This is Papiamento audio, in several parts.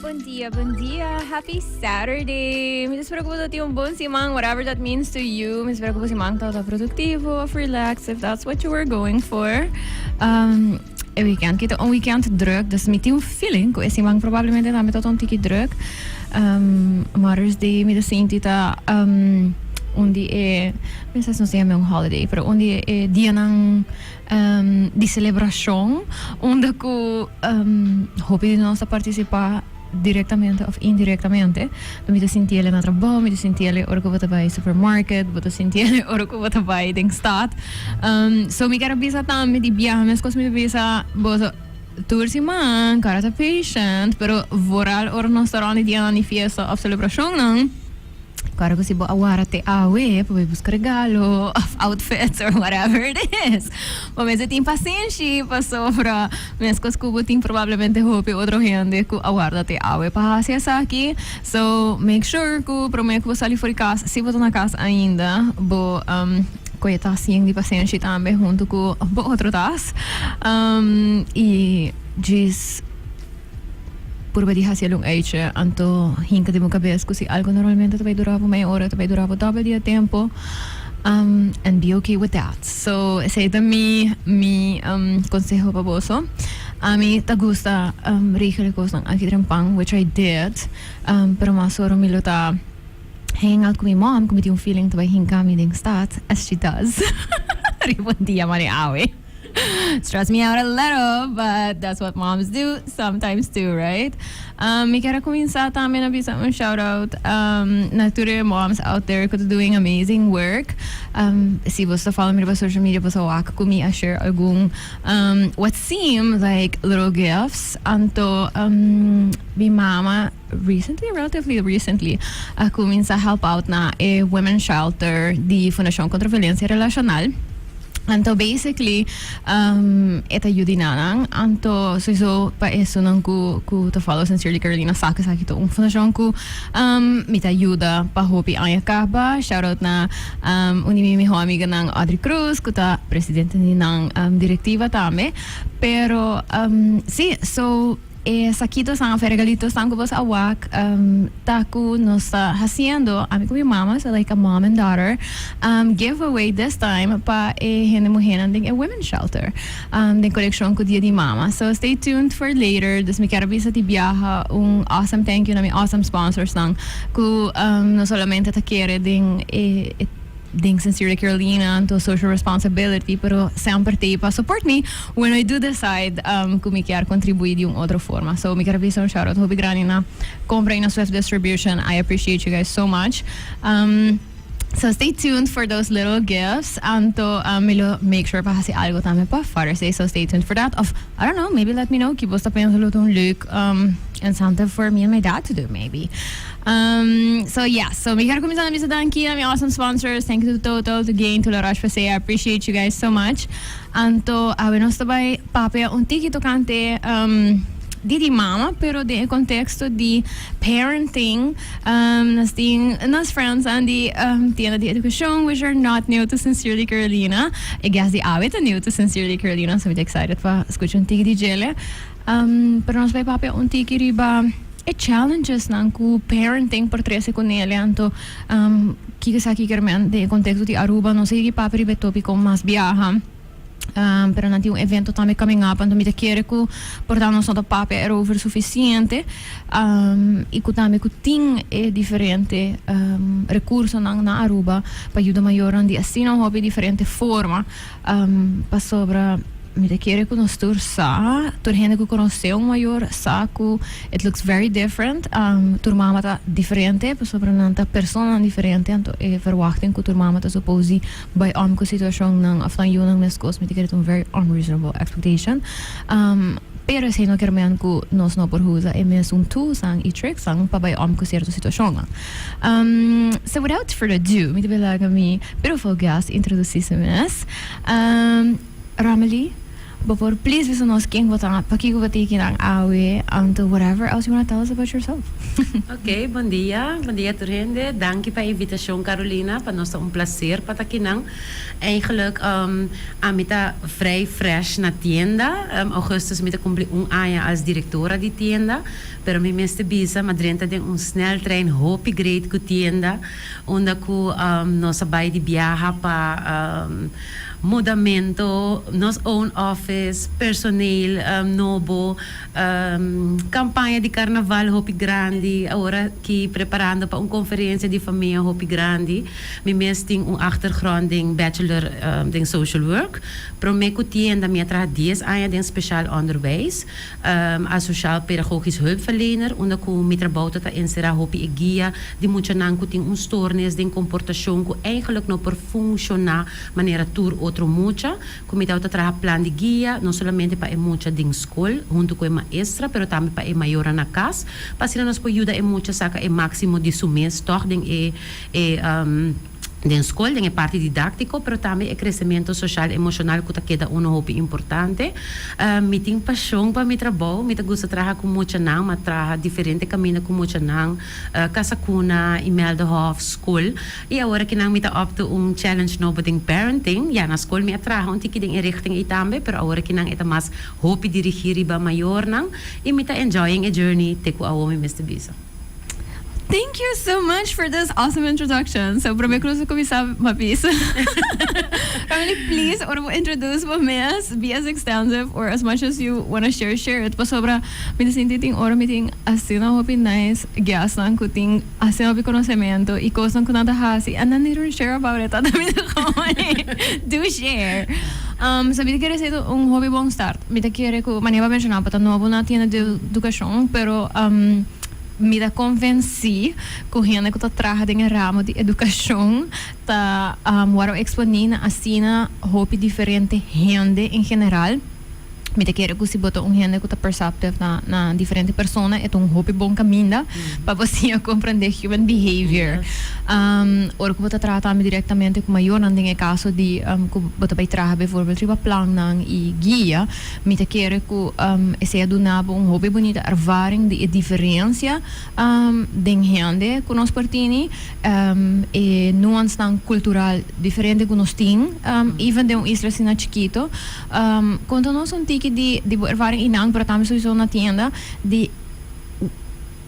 Buen dia, buen dia. Happy Saturday. Mis espero que vos tiene un buen semana, whatever that means to you. Mis espero que vos semana todo productivo of relax, if that's what you were going for. Um, e weekend, que un weekend druk, dus mi un feeling que ese man probablemente también tot un tiki druk. Um, Mother's Day, mi de sinti ta um, un di e, mi sa no se un holiday, pero un di e dia nan di celebracion unda cu hopi di nos ta participa directamente of indirectamente. Bo mi ta sinti el'e na trabou, mi ta sinti el'e ora cu bo ta bay supermarket, bo ta sinti el'e ora cu bo ta bay den stad. So mi ker a bisa tambe di biaha mescos mi ta bisa bo tur siman, cara ta patient, pero vooral ora nos ta rond di dia nan di fiesta of celebracionnan. Kòrda ku si bo a wòrda te awe pa bai buska regalo òf outfits or whatever it is, bo mester tin pasenshi pasobra meskos ku bo tin probablemente hopi otro hende ku a wòrda te awe pa hasi esaki. So, make sure ku promé ku bo sali for di kas, si bo ta na kas ainda, bo kohe e tas yen di pasenshi tambe huntu ku bo otro tas. I djis. Purba di hasi el un eitje, anto hinka den bo kabes ku si algu normalmente ta bai dura bo meia ora ta bai dura bo doble di e tempo, and be okay with that. So esei ta mi mi konseho pa boso. Ami ta gusta regel e kosnan aki den pan which I did pero mas ora mi lo ta hang out ku mi mom ku mi tin un feeling ta bai hinka mi den stad as she does riba un dia maneawe. Stress me out a little but that's what moms do sometimes too right. Um mi kier a cuminsa tambe na bisa un shout out um na tur e moms out there cu ta doing amazing work. Um si boso ta follow mi riba social media boso a wak cu mi a share algun um what seem like little gifts anto um mi mama Recently, relatively recently, a cuminsa help out na e women shelter di Fundacion Contra Violencia Relacional. Anto basically um, e ta yudi nanan. Anto sowieso pa esunnan cu cu ta follow Sincerely Carolina sa cu esaki ta un fundacion cu um, mi ta yuda pa hopi aña caba. Shout out na um, un di mi miho amiganan Audrey Cruz cu ta presidente di nan um, directiva tambe. Pero um, si, so. E saquitosan of e regalitosan cu boso a wak ta cu nos ta haciendo, ami cu mi mama, so like a mom and daughter, giveaway this time pa e hende muhernan den e women shelter den coneccion cu Dia di Mama. So stay tuned for later. Dus mi kier a bisa di biaha un awesome thank you na mi awesome sponsorsnan cu no solamente ta kere den e. Den Sincerely Carolina anto social responsibility pero semper ta pa support mi when I do decide um cu mi kier contribui di un otro forma. So mi kier bisa un shout out hopi grandi na compra y na Swift Distribution. I appreciate you guys so much. Um, So stay tuned for those little gifts. Anto uh, mi lo make sure pa hasi algo también pa Father's Day. So stay tuned for that. Of I don't know, maybe let me know. Kibo sta pensando lo un leuk um, incentive for me and my dad to do, maybe. Um, so yeah, so mi quiero comenzar na bisa danki na mi awesome sponsors. Thank you to Total, to Gain, to La Roche Posay. I appreciate you guys so much. Anto, awe nos ta bay papia un tiki tocante um, di di mama, pero den e contexto di parenting, um, nos tin nos friends aan di um, tienda di educacion, which are not new to Sincerely Carolina. I guess di awe ta new to Sincerely Carolina, so mi ta excited pa escucha un tiki di djele. Pero nos bai papia un tiki riba e challengesnan cu parenting por trece cu Nelia. Anto, ki ta sa aki kermen den e contexto di Aruba? Nos a yegi papia riba e topico mas biaha, pero nan tin un evento tambe coming up, anto mi ta kere cu por ta nos no ta papia erover suficiente y cu tambe cu tin e diferente recursonan na Aruba pa yuda mayornan di asina un hopi diferente forma. Pasobra mi ta kere ku nos tur sa, tur hende ku konosé un mayor sa ku it looks very different. Tur mama ta diferente pasobra nan ta personanan diferente. Anto e verwachting ku tur mama ta suppose di bai om ku situashonnan òf nan yunan meskos mi ta kere ta un very unreasonable expectation. Pero esei no ker men ku nos no por usa e mesun tools an i tricks an pa bai om ku sierto situashonnan. Um, so without further ado, mi ta bai laga mi beautiful guest introduci su mes. Um, Rameli, bo por please bisa nos ken bo ta, pa kiko bo ta kinan awe, anto whatever else you wanna tell us about yourself. Ok, bon dia, bon dia tur hende. Danki pa e invitashon Carolina, pa nos ta un plaser pa ta kinan. Eigenlijk, um, ami ta vrij fresh na tienda, um, augustus mi ta kumpli un aña als directora di tienda. Pero mi mester bisa, Madren ta den un sneltrein hopi great ku tienda unda ku nos a bai di biaha pa mudamento, nos own office, personeel nobo, kampaña di karnaval hopi grandi, awor aki preparando pa un konferensia di famia hopi grandi. Mi mes tin un achtergrond den bachelor den social work. Prome ku tienda mi a traha dies aña den spesial onderwijs. a Sociaal Pedagogisch Hulpverlener, unda ku mi trabou ta ta enserá hopi e guia di muchanan ku tin un stoornis den komportashon ku eigenlik no por funshoná manera tur otro mucha, ku mi tabata traha plan di guia no solamente pa e mucha den skol huntu ku e maestra pero tambe pa e mayornan na kas pa asina nos por yuda e mucha saka e máksimo di su mes tòg den e. den skol, den e parti didáktiko, pero tambe e kresementu soshal, emoshonal ku ta keda unu hopi importante. Mi tin pashon pa mi trabou, mi ta gusta traha ku muchanan, mi a traha diferente kaminda ku muchanan, Casa Cuna, Imelda Hof, skol. I awor aki nan mi ta up to un challenge nobo den parenting. Ya, na skol mi a traha un tiki den e richting ei tambe, pero awor aki nan e ta mas hopi dirigí riba mayornan, i mi ta enjoying e journey te ku awor mi mester bisa. Thank you so much for this awesome introduction. So, probeer ku nos a kuminsá mapis. Family, please, ora bo introduce bo mes, be as extensive or as much as you wanna share, share it. Pasobra, mi ta sinti tin ora mi tin asina hopi nice guestnan ku tin asina hopi konosementu i kosnan ku nan ta hasi and nan didn't share about it ata mi ta hopi. Do share! Um, so mi ta kere seta un hopi bon start. Mi ta kere ku manera bo a menshoná bo ta nobo na tienda di edukashon, pero mi ta konvensí ku hende ku ta traha den e ramo di edukashon ta wòrdu eksponí na asina hopi diferente hende en general. Mi ta kere ku si bo ta un hende ku ta perceptive na diferente persona e ta un hopi bon kaminda. Pa bo siña comprende human behavior. Ora cu bo ta traha tambe directamente cu mayornan den e caso di cu bo ta bay traha bijvoorbeeld riba plannan y guia, mi ta kere cu esey a duna bo un hopi bunita ervaring di e diferencia den hende cu nos por tini, e nuansnan cultural diferente cu nos tin, even den un isla asina chikito. Conta nos un tiki di bo ervaring y nan, pero tambe sowieso na tienda, di.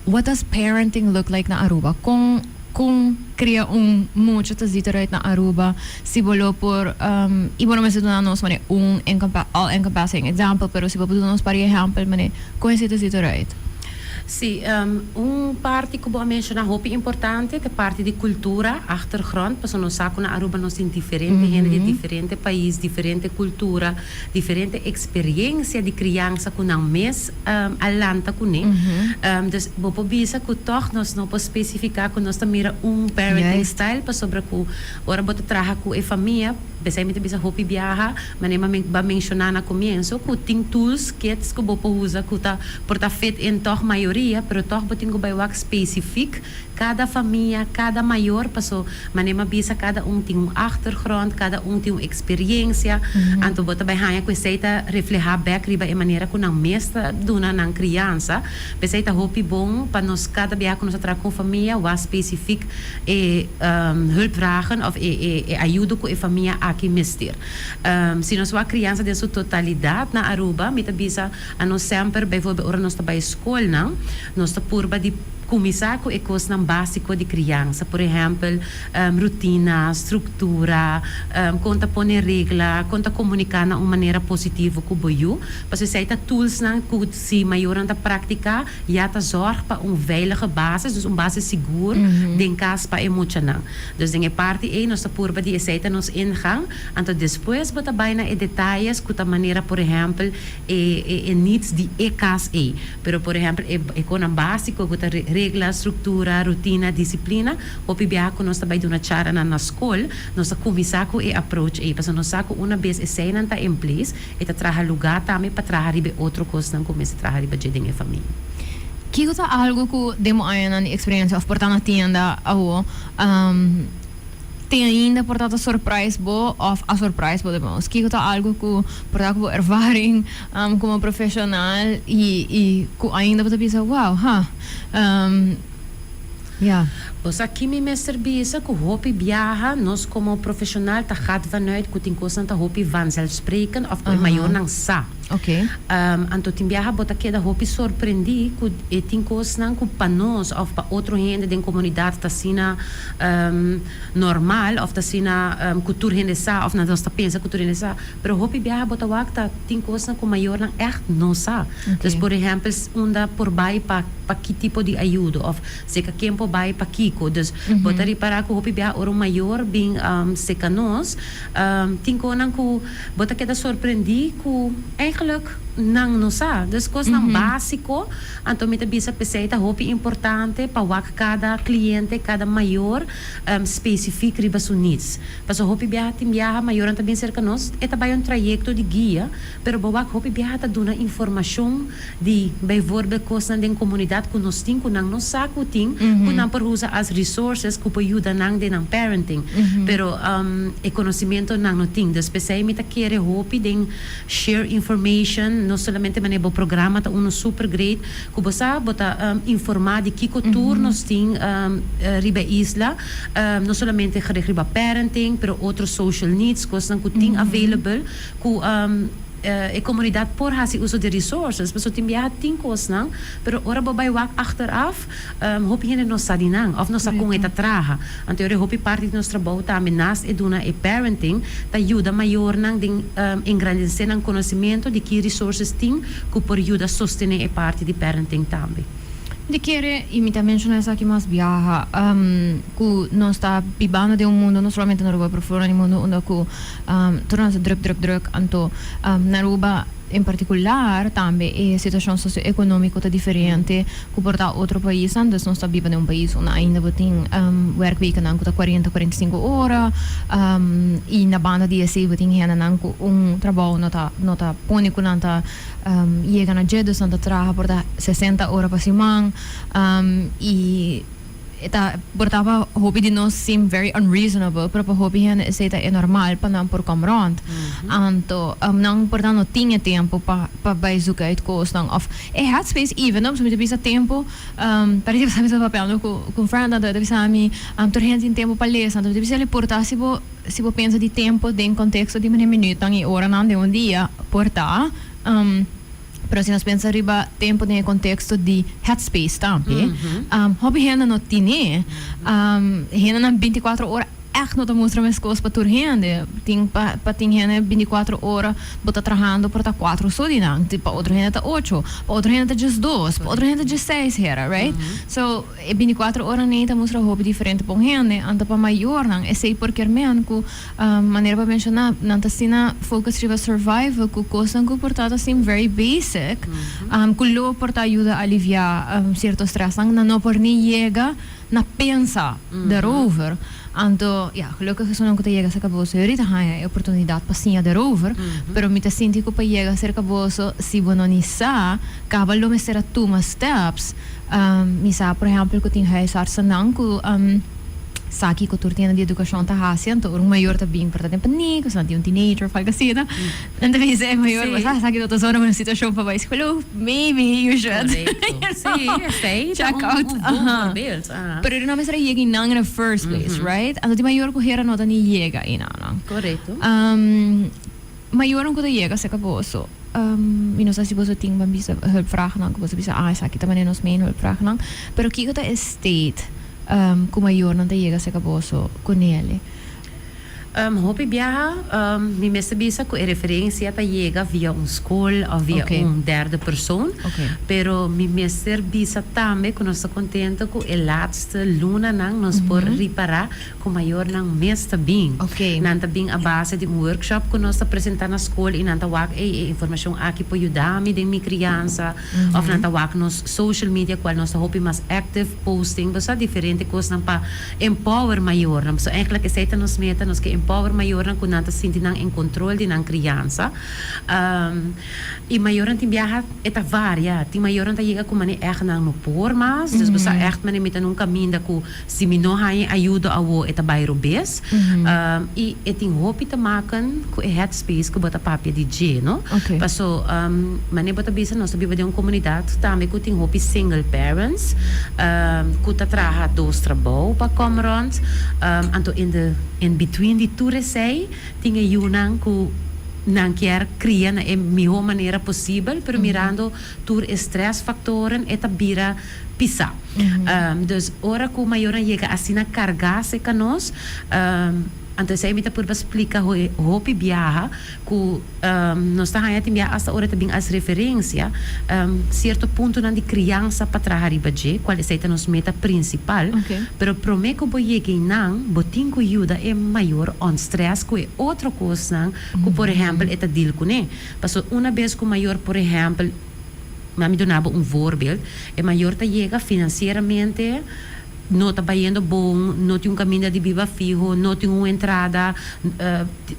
what does parenting look like na Aruba? Con con cria un mucho ta zit eruit na Aruba? Si bo lo por, um, y bo no mester duna nos mane un encompa all encompassing example, pero si bo por duna nos pari ehempel mane con esei ta zit eruit? Sí, um, un parti cu bo a menciona hopi importante ta e parti di cultura, achtergrond, pasobra nos sa cu na Aruba nos tin diferente hende di diferente pais, diferente cultura. Diferente eksperiencia di kriansa ku nan mes a lanta kuné. Dus bo por bisa ku tòg nos no por spesifiká ku nos ta mira un parenting style pasobra ku ora bo ta traha ku e famia, p'esei mi ta bisa hopi biaha, manera mi a menshoná na komienso, ku tin tools, kits ku bo por usa ku ta por ta fit in tòg mayoria, pero tòg bo tin ku bai wak spesifik. Cada famia, cada mayor, paso mane m'a bisa cada un tin un achtergrond, cada un tin un experiencia, anto bo ta bai haña cu esey ta refleha bek riba e manera cu nan mes ta duna nan criansa. P'esey ta hopi bon pa nos cada biaha cu nos a traha cu un famia wak specifiek e hulpvragen of e e ayudo cu e famia aki mester. Si nos wak criansa den su totalidad na Aruba, mi ta bisa anos semper, bijvoorbeeld ora nos ta bai schoolnan, nos ta purba di. Kuminsá ku e kosnan básiko di kriansa, por ehèmpel, rutina, struktura, kon ta pone regla, kon ta komuniká na un manera positivo ku bo yu, pasobra esei ta tulsnan ku si mayornan ta praktiká, ya ta zòrg pa un veilige basis, dus un basis sigur den kas pa e muchanan. Dus den e parti ei nos ta purba di esei ta nos ingang, anto despues bo ta bai na e detalles ku ta manera, por ehèmpel, e e needs di e cas ey. Pero por ehempel e e conan basico cu ta regla, structura, rutina, disciplina, hopi biaha cu nos ta bay duna chara nan na scol, nos ta cuminsa cu e approach ey, pasobra nos sa cu una bes eseynan ta en place, e ta traha lugar tambe pa traha riba e otro cosnan cu mester traha riba dje den e famia. Kico ta algo cu den bo añanan di experiencia of por ta na tienda awo Tin ainda por ta ta surprise bo of a surprise bo demons? Kiko ta algo cu por ta cu bo ervaring como profesional y y cu ainda bo ta bisa wow ha um ya. Pues aki mi mester bisa cu hopi biaha nos como profesional ta gaat vanuit cu tin cosnan ta hopi vanzelfsprekend of cu e mayornan sa. Okay. Um anto tin biaha bo ta keda hopi sorprendi cu e tin cosnan cu pa nos of pa otro hende den comunidad ta asina. normal of ta asina cu tur hende sa of nos ta pensa cu tur hende sa pero hopi biaha bo ta wak ta tin cosnan cu mayornan echt no sa dus por ehempel unda por bay pa pa ki tipo di ayudo of seca ken por bay pa kico dus bo ta ripara cu hopi biaha ora un mayor bin seca nos tin conan cu bo ta keda sorprendi cu eigenlic nan no sa dus cosnan basico. Anto mi ta bisa p'esei ta hopi importante pa wak kada kliente, kada mayor, spesifik riba su needs. Paso hopi biaha tin biaha mayornan ta bin serka nos, e ta bai un trayekto di guia, pero bo wak hopi biaha ta duna informashon di bijvoorbeeld kosnan den komunidat ku nos tin ku nan no sa ku tin, ku nan por usa as resources ku por yuda nan den nan parenting, pero e konosimentonan no tin. Dus p'esei mi ta kere hopi den. Share information, no solamente manera bo programa ta uno super great, cu bo sa bo ta informa di kico tur nos tin riba e isla, no solamente gericht riba parenting, pero otro social needs, cosnan cu tin available cu e comunidad por haci uso di resources, pasobra tin biaha tin cosnan, pero ora bo bay wak achteraf. Hopi hende no sa di nan, of no sa kon e ta traha. Anto e hopi parti di nos trabou ta ambe naast e duna e parenting ta yuda mayornan den engrandesé nan konosementu di ki resources tin ku por yuda sostené e parti di parenting tambe. Di kere, i mi ta menshoná esaki mas biaha, ku nos ta bibando den un mundu, no solamente na Aruba pero for na di mundu, unda ku tur a hasi druk druk druk. Anto na Aruba. En partikular tambe e situashon sosioekonomiko ta diferente ku por ta otro pais andes nos ta biba den un pais unda ainda bo tin wèrkwekennan ku ta kuarenta kuarenta i sinku ora i na banda di esei bo tin hendenan ku un trabou no ta no ta pone ku nan ta yega na dje dus nan ta traha por ta sesenta ora pa siman i. E ta portá pa hopi di nos seem very unreasonable, pero pa hopi hende esei ta e normal pa nan por kom rònt. Anto nan por ta no tin e tempu pa pa bai zuka uit kosnan òf e headspace even though pasobra mi ta bisa tempu pasobra mi ta bisa papelnan ku ku un friend anto e ta bisa mi tur hende tin tempu pa lesa anto mi ta bisa el porta si bo si bo pensa di tempu den konteksto di manera minütnan i oranan den un dia por ta. Pero si nos pensa riba tempo den e contexto di headspace tambe, hopi hende no tine. Hendenan binticuatro ora echt no ta mustra mescos pa tur hende. Tin pa pa tin hende binticuatro ora bo ta trahando pero ta cuatro so di nan. Pa otro hende ta ocho, pa otro hende ta djesdos, pa otro hende ta djeseis hera, right? So. E binticuatro ora n'ei ta mustra hopi diferente pa un hende, anto pa mayornan, esei por kermen cu, manera pa menciona, nan ta asina focus riba survival cu cosnan cu por ta ta sin very basic, cu lo por ta yuda alivia cierto stressnan, nan no por ni yega na pensa daarover. Anto, ya, gelukkig esunnan ku ta yega serka boso, e orit a haña e oportunidat pa siña derover, pero mi ta sinti ku pa yega serka boso, si bo no ni sa kaba lo mester a tuma steps, mi sa por ehèmpel ku tin huisartsennan ku sa kiko tur tienda di edukashon ta hasi, anto ora un mayor ta bin por ta den pa niño, ku asina tin un teenager òf algu asina, nan ta bisa e mayor, bo sa, esaki no ta zona bo na situashon pa bai skol, maybe you should, you know, check out. Pero di nan mester a yega i nan in a first place, right? Anto di mayor ku hera no ta ni yega i nannan. Mayornan ku ta yega serka boso, mi no sa si boso tin bambisa hulpvraagnan ku boso ta bisa, ah esaki ta manera nos main hulpvraagnan, pero kiko ta e state ku mayornan ta yega serka boso ku neli? Hopi biaha mi mester bisa ku e referensia ta yega via un skol òf via un derde persoon, pero mi mester bisa tambe ku nos ta kontento ku e latste lunanan nos por ripará ku mayornan mes ta bin. Nan ta bin a base di un workshop ku nos ta presentá na skol i nan ta wak ei e informashon aki por yuda mi den mi kriansa òf nan ta wak nos social media kual nos ta hopi mas active posting bo sa diferente kosnan pa Empower mayornan. So èkla esei ta nos meta, nos ke empower mayornan ku nan ta sinti nan en kontrol di nan kriansa. I mayornan tin biaha e ta varia. Tin mayornan ta yega ku manera ègt nan no por mas. Dus bo sa ègt manera mi ta na un kaminda ku si mi no haña e ayudo awor e ta bai robes. I e tin hopi te maken ku e het. Space ku bo ta papia di dje, no? Okay. Paso, um, mane bo ta bisa, nos ta biba den un komunidat tambe ku tin hopi single parents, um, ku ta traha dos trabou pa kom rònt. Um, anto in de, in between di tur esei, tin e yunan ku nan kier kria na e mihó manera posibel, pero mirando tur e strès faktoren, e ta bira pisá. Um, dus ora ku mayornan yega asina kargá se kanos, um, Anto esei mi ta purba splika hopi biaha ku nos ta haña tin biaha asta ora ta bin as referensia sierto puntonan di kriansa pa traha riba dje, kual esei ta nos meta prinsipal. Pero promé ku bo yega einan bo tin ku yuda e mayor ònstrès ku e otro kosnan ku por ehèmpel e ta dil kuné. Pasobra una bes ku mayor por ehèmpel, mami duna bo un voorbeeld, e mayor ta yega finansieramente, No ta bayendo bon, no tin un kaminda di biba fiho, no tin un entrada,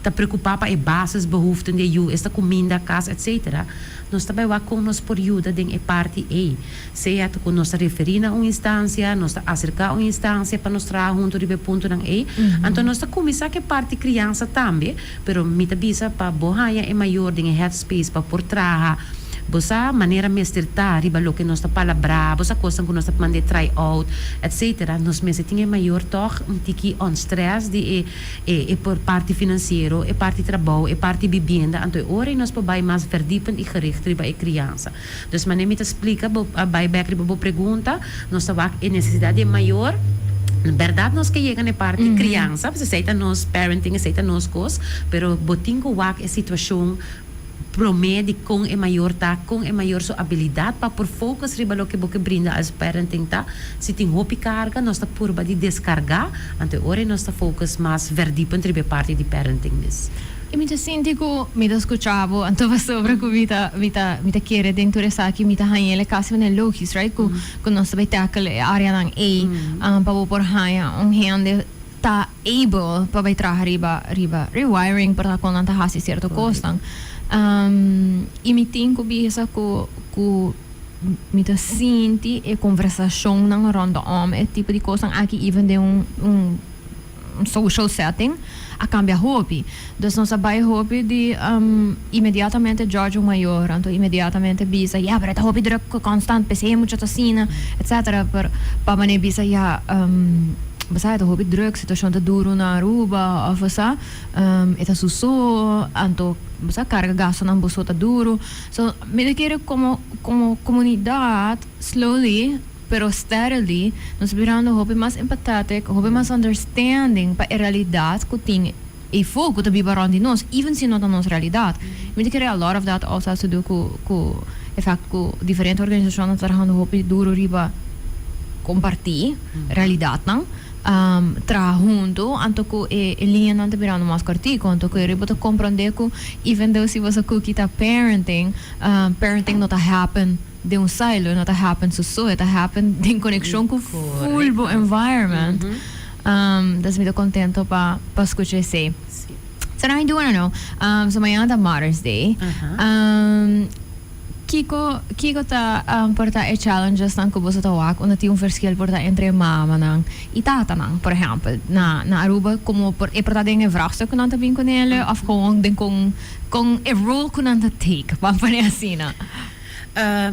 ta preokupá pa e bases behoeften di e yu, esta kuminda, kas, etc. Nos ta bai wak kon nos por yuda den e parti ei. Sea ta ku nos ta referí na un instansia, nos ta aserká un instansia pa nos traha huntu riba e puntunan ei. Anto nos ta kuminsá ku e parti kriansa tambe. Pero mi ta bisa pa bo haña e mayor den e headspace pa por traha bo sa manera mester ta riba loke nos ta palabrá, bo sa kosnan ku nos ta mand'é try out, etc. Nos mester tin e mayor tòg un tiki unstressed di e e e parti finansiero, e parti trabou, e parti bibienda, anto e ora ei nos por bai mas verdipend i gericht riba e kriansa. Dous manera mi ta splica bo, pa bay bek riba bo pregunta, nos ta wak e necesidad di e mayor, berdad nos ke yega na e parti criansa, pasobra esey ta nos parenting, esey ta nos cos, pero bo tin cu wak e situacion prome di con e mayor ta, con e mayor su abilidad pa por focus riba loke bo ke brinda als parenting ta, si tin hopi carga nos ta purba di descarga, anto e ora ey nos ta focus mas verdipend riba e parti di parenting mes. I mi ta sinti ku mi ta skucha bo, anto pasobra ku mi ta mi ta mi ta kere den tur esaki mi ta haña el e kas manera logis right ku ku nos ta bai tackle e áreanan ei pa bo por haña un hende ta able pa bai traha riba riba rewiring por ta kon nan ta hasi sierto kosnan i mi tin ku bisa ku ku mi ta sinti e konversashonnan rondom e tipo di kosnan aki even den un un social setting a cambia hopi. Dus nos a bay hopi di inmediatamente judge un mayor, anto inmediatamente bisa, ya, pero e ta hopi druk, cu constant, p'esey e mucha ta asina, etc. Pero pa manera bisa, ya, bo sa, e ta hopi druk, situacion ta duru na Aruba, of bo sa, e ta su so, anto, bo sa, carga gastonan bo so ta duru. So, mi ta kere como, como comunidad, slowly. Pero steadily nos mirando hopi mas empathetic, hopi mas understanding pa e realidad cu tin e folk cu ta biba rond di nos, even si no ta nos realidad. Mi ta kere a lot of that also has to do cu cu e fact cu diferente organisacionnan ta trahando hopi duro riba comparti realidadnan, um traha hunto, anto cu e e lineanan ta birando mas cortico, anto cu e riba bo ta comprende cu even though si boso cookie ta parenting, um parenting no ta happen. Den un silo no ta happen so so, e ta happen den konekshon ku full bo environment. Des mi ta kontento pa pa skucha esei. So now I do wanna know, so mañana ta Mother's Day, kiko kiko ta por ta e challengesnan ku boso ta wak unda tin un verskil por ta entre e mamanan i tatanan, por ehèmpel, na na Aruba komo por e por ta den e vrègstuk ku nan ta bin ku nele òf kon den kon kon e role ku nan ta take, pa pone asina?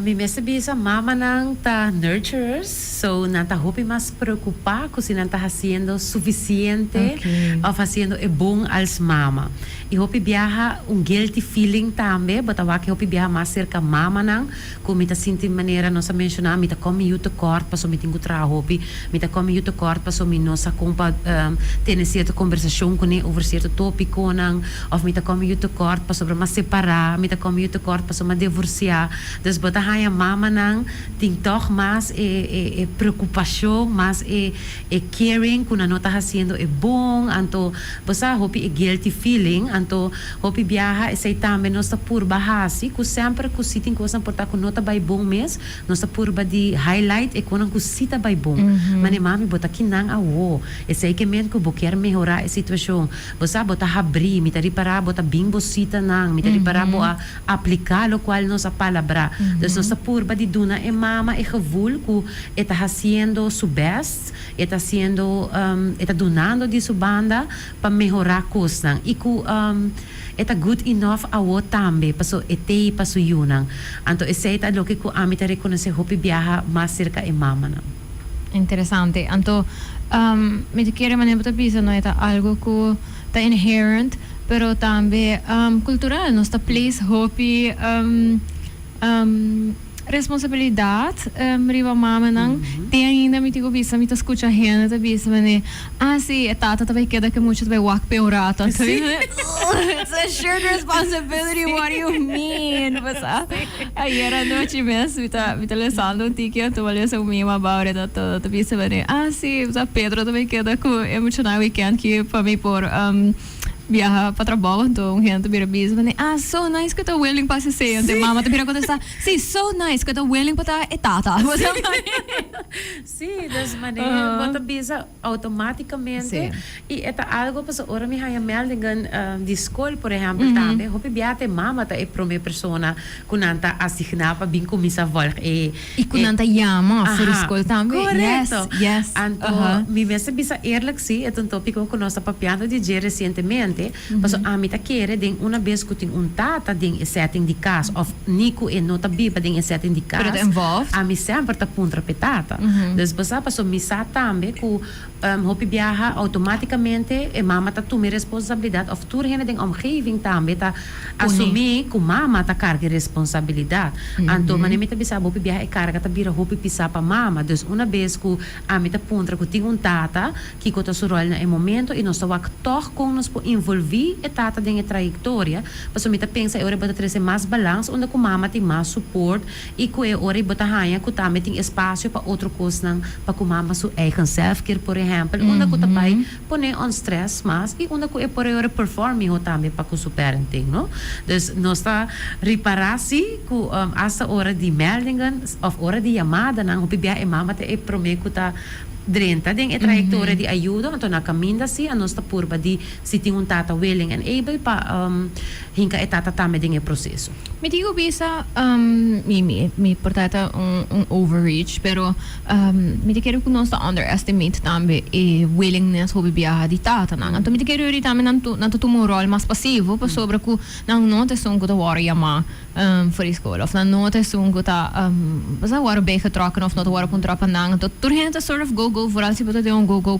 Mi mester bisa mamanan ta nurturers, so nan ta hopi mas preocupa cu si nan ta haciendo suficiente of haciendo e bon als mama. Y hopi biaha un guilty feeling tambe, bo ta wak hopi biaha mas cerca mamanan cu mi ta sinti manera nos a menciona, mi ta come yu tekort pasobra mi tin cu traha hopi. Mi ta come yu tekort paso mi no sa con pa tene cierto conversacion cune over cierto topiconan, of mi ta come yu tekort pasobra m'a separa, mi ta come yu tekort paso m'a devorcia. Dus bo ta haya mamanan tin toch mas e e preocupacion, mas e e caring cu nan no ta haciendo e bon, anto bo sa hopi e guilty feeling, anto hopi biaha esey tambe nos ta purba haci cu semper cu si tin cosanan por ta cu no ta bay bon mes, Nos ta purba di highlight e conan cu si ta bay bon. Mane mami, bo ta ki nan awo. Esey ke men cu bo kier mehora e situacion. Bo sa, bo ta habri, mi ta ripara bo ta bin bo citanan, mi ta ripara bo a aplica locual nos a palabra. Dus nos ta purba di duna e mama e gevoel cu e ta haciendo su best, e ta haciendo, e ta dunando di su banda pa mehora cosnan y cu. E ta good enough awo tambe paso e tei pa su yunan. Anto esei ta loke cu ami ta reconoce hopi biaha mas cerca e mamanan. Interesante. Anto, mi ta kere manera bo ta bisa no e ta algo cu ta inherent, pero tambe cultural. Nos ta place hopi. responsabilidad riba mamanan te ainda mi tin cu bisa mi ta scucha hende ta bisa mene ah si e tata ta bay keda cu e mucha ta bay wak p'e un rato a ta bay mene ooh it's a shared responsibility what do you mean pasa ayer anochi mes mi ta mi ta lesando un tiki a tuma les un mima bao ora ta ta bisa mene ah si Pedro ta bay keda cu e muchanan weekend ki pa mi por. biaha pa trabou, anto un hende ta bira bisa pa nan, ah, so nice ku ta willing pa hasi sey, anto e mama ta bira kontestá, sí, so nice ku ta willing pa ta e tata. Sí, dus manera bo ta bisa outomátikamente i e ta algu pasobra ora mi haña meldingen di skol, por ehèmpel, tambe hopi biaha ta e mama ta e promé persona ku nan ta asigná pa bin kuminsá vòlg e. Y cu nan ta yama for escol tambe. Correcto. Yes, yes. Anto, uh-huh. mi mes ta bisa eerlijk si, e ta un topico cu nos ta papiando di dje recientemente, mm-hmm. paso ami ta kere den una bes cu tin un tata den e setting di cas, of ni cu e no ta biba den e setting di cas, ami semper ta puntra p'e tata. Mm-hmm. Dus bo sa, paso mi sa tambe cu, Hopi biaha automáticamente e mama ta tuma e responsabilidad of tur hende den omgeving tambe ta asumí cu mama ta carga e responsabilidad. Anto mane mi ta bisa bo hopi biaha e carga ta bira hopi pisá pa mama. Dus una bes cu ami ta puntra cu tin un tata, kico ta su rol na e momento y nos ta wak tog con nos por involví e tata den e trayectoria. Pasobra mi ta pensa e ora bo ta trece mas balans unda cu mama tin mas support. I cu e ora i bo ta haña cu tambe tin espacio pa otro cosnan pa cu mama su eigen selfcare por ehempel unda cu ta bay pone on stress mas i unda cu e por e ora perform miho tambe pa cu su parenting no. Dus nos ta ripara si cu hasta ora di meldingen of ora di yamadanan hopi bia e mama ta e prome cu ta drenta den e trayectoria di ayudo anto na caminda si a nos ta purba di si tin un tata willing and able pa hinca e tata tambe den e proceso. Mi tin cu bisa, mi mi por ta ta un overreach, pero mi ta kere cu nos ta underestimate tambe e willingness hopi biaha di tatanan. Anto mi ta kere ori tambe nan nan ta tuma un rol mas pasivo pasobra cu nan no ta esun cu ta worde yama for di scola of nan no ta esun cu ta pasaba worde begetrokken of no ta worde puntra pa nan. Anto tur hende ta sort of go go vooral si bo ta den un go go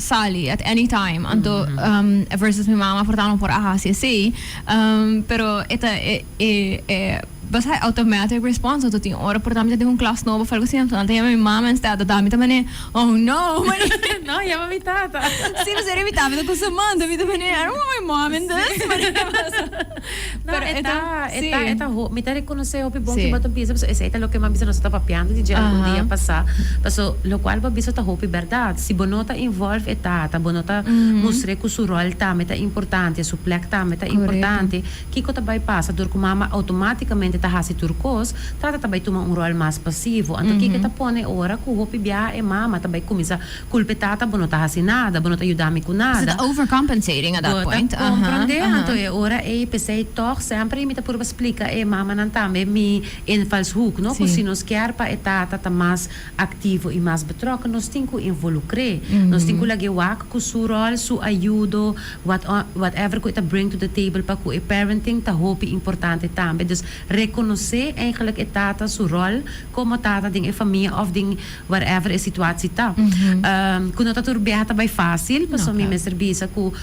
sali at any time anto versus mi mama por tando por a hasi esey pero e ta e e basai automatic response anto tin ora por ta mi ta den un klas nobo of algo así anto nan ta yama mi mama instead ta dami ta manera oh no no yama mi tata si pasobra mi tata ta custa manda mi ta manera I don't want my mom in this manera pasobra. No, Pero e e ta, ta, e ta, sí. e ta, ho- mi ta reconoce hopi bon Sí. ki Baton piensa, paso esei ta loke man bisa nos ta papiando di dje algun Aha. dia pasá. Paso lo cual bo bisa ta hopi berdad. Si bo no ta involve e tata, bo no ta mustr'é cu su rol tambe ta importante, su plek tambe ta Correcto. importante, kico ta bay pasa? Dor cu mama automáticamente ta haci tur cos, tata ta bay tuma un rol mas pasivo. Anto, kico ta pone ora cu hopi biaha e mama ta bay cuminsa Culpe tata bo no ta haci nada, bo no ta yuda mi cu nada. Is it overcompensating at that point? Bo ta comprende anto e ora ey, pesey toch semper y mi ta purba splica e mamanan tambe mi invalshoek no, cu si nos kier pa e tata ta mas activo y mas betrokken nos tin cu involucre, nos tin cu lag'e wak cu su rol, su ayudo, what whatever cu e ta bring to the table pa cu e parenting ta hopi importante tambe, dus reconoce eigenlijk e tata su rol. como ta ta den e famia of den whatever e situatie ta. Cu no ta tur biaha ta bay facil, pasobra mi mester bisa cu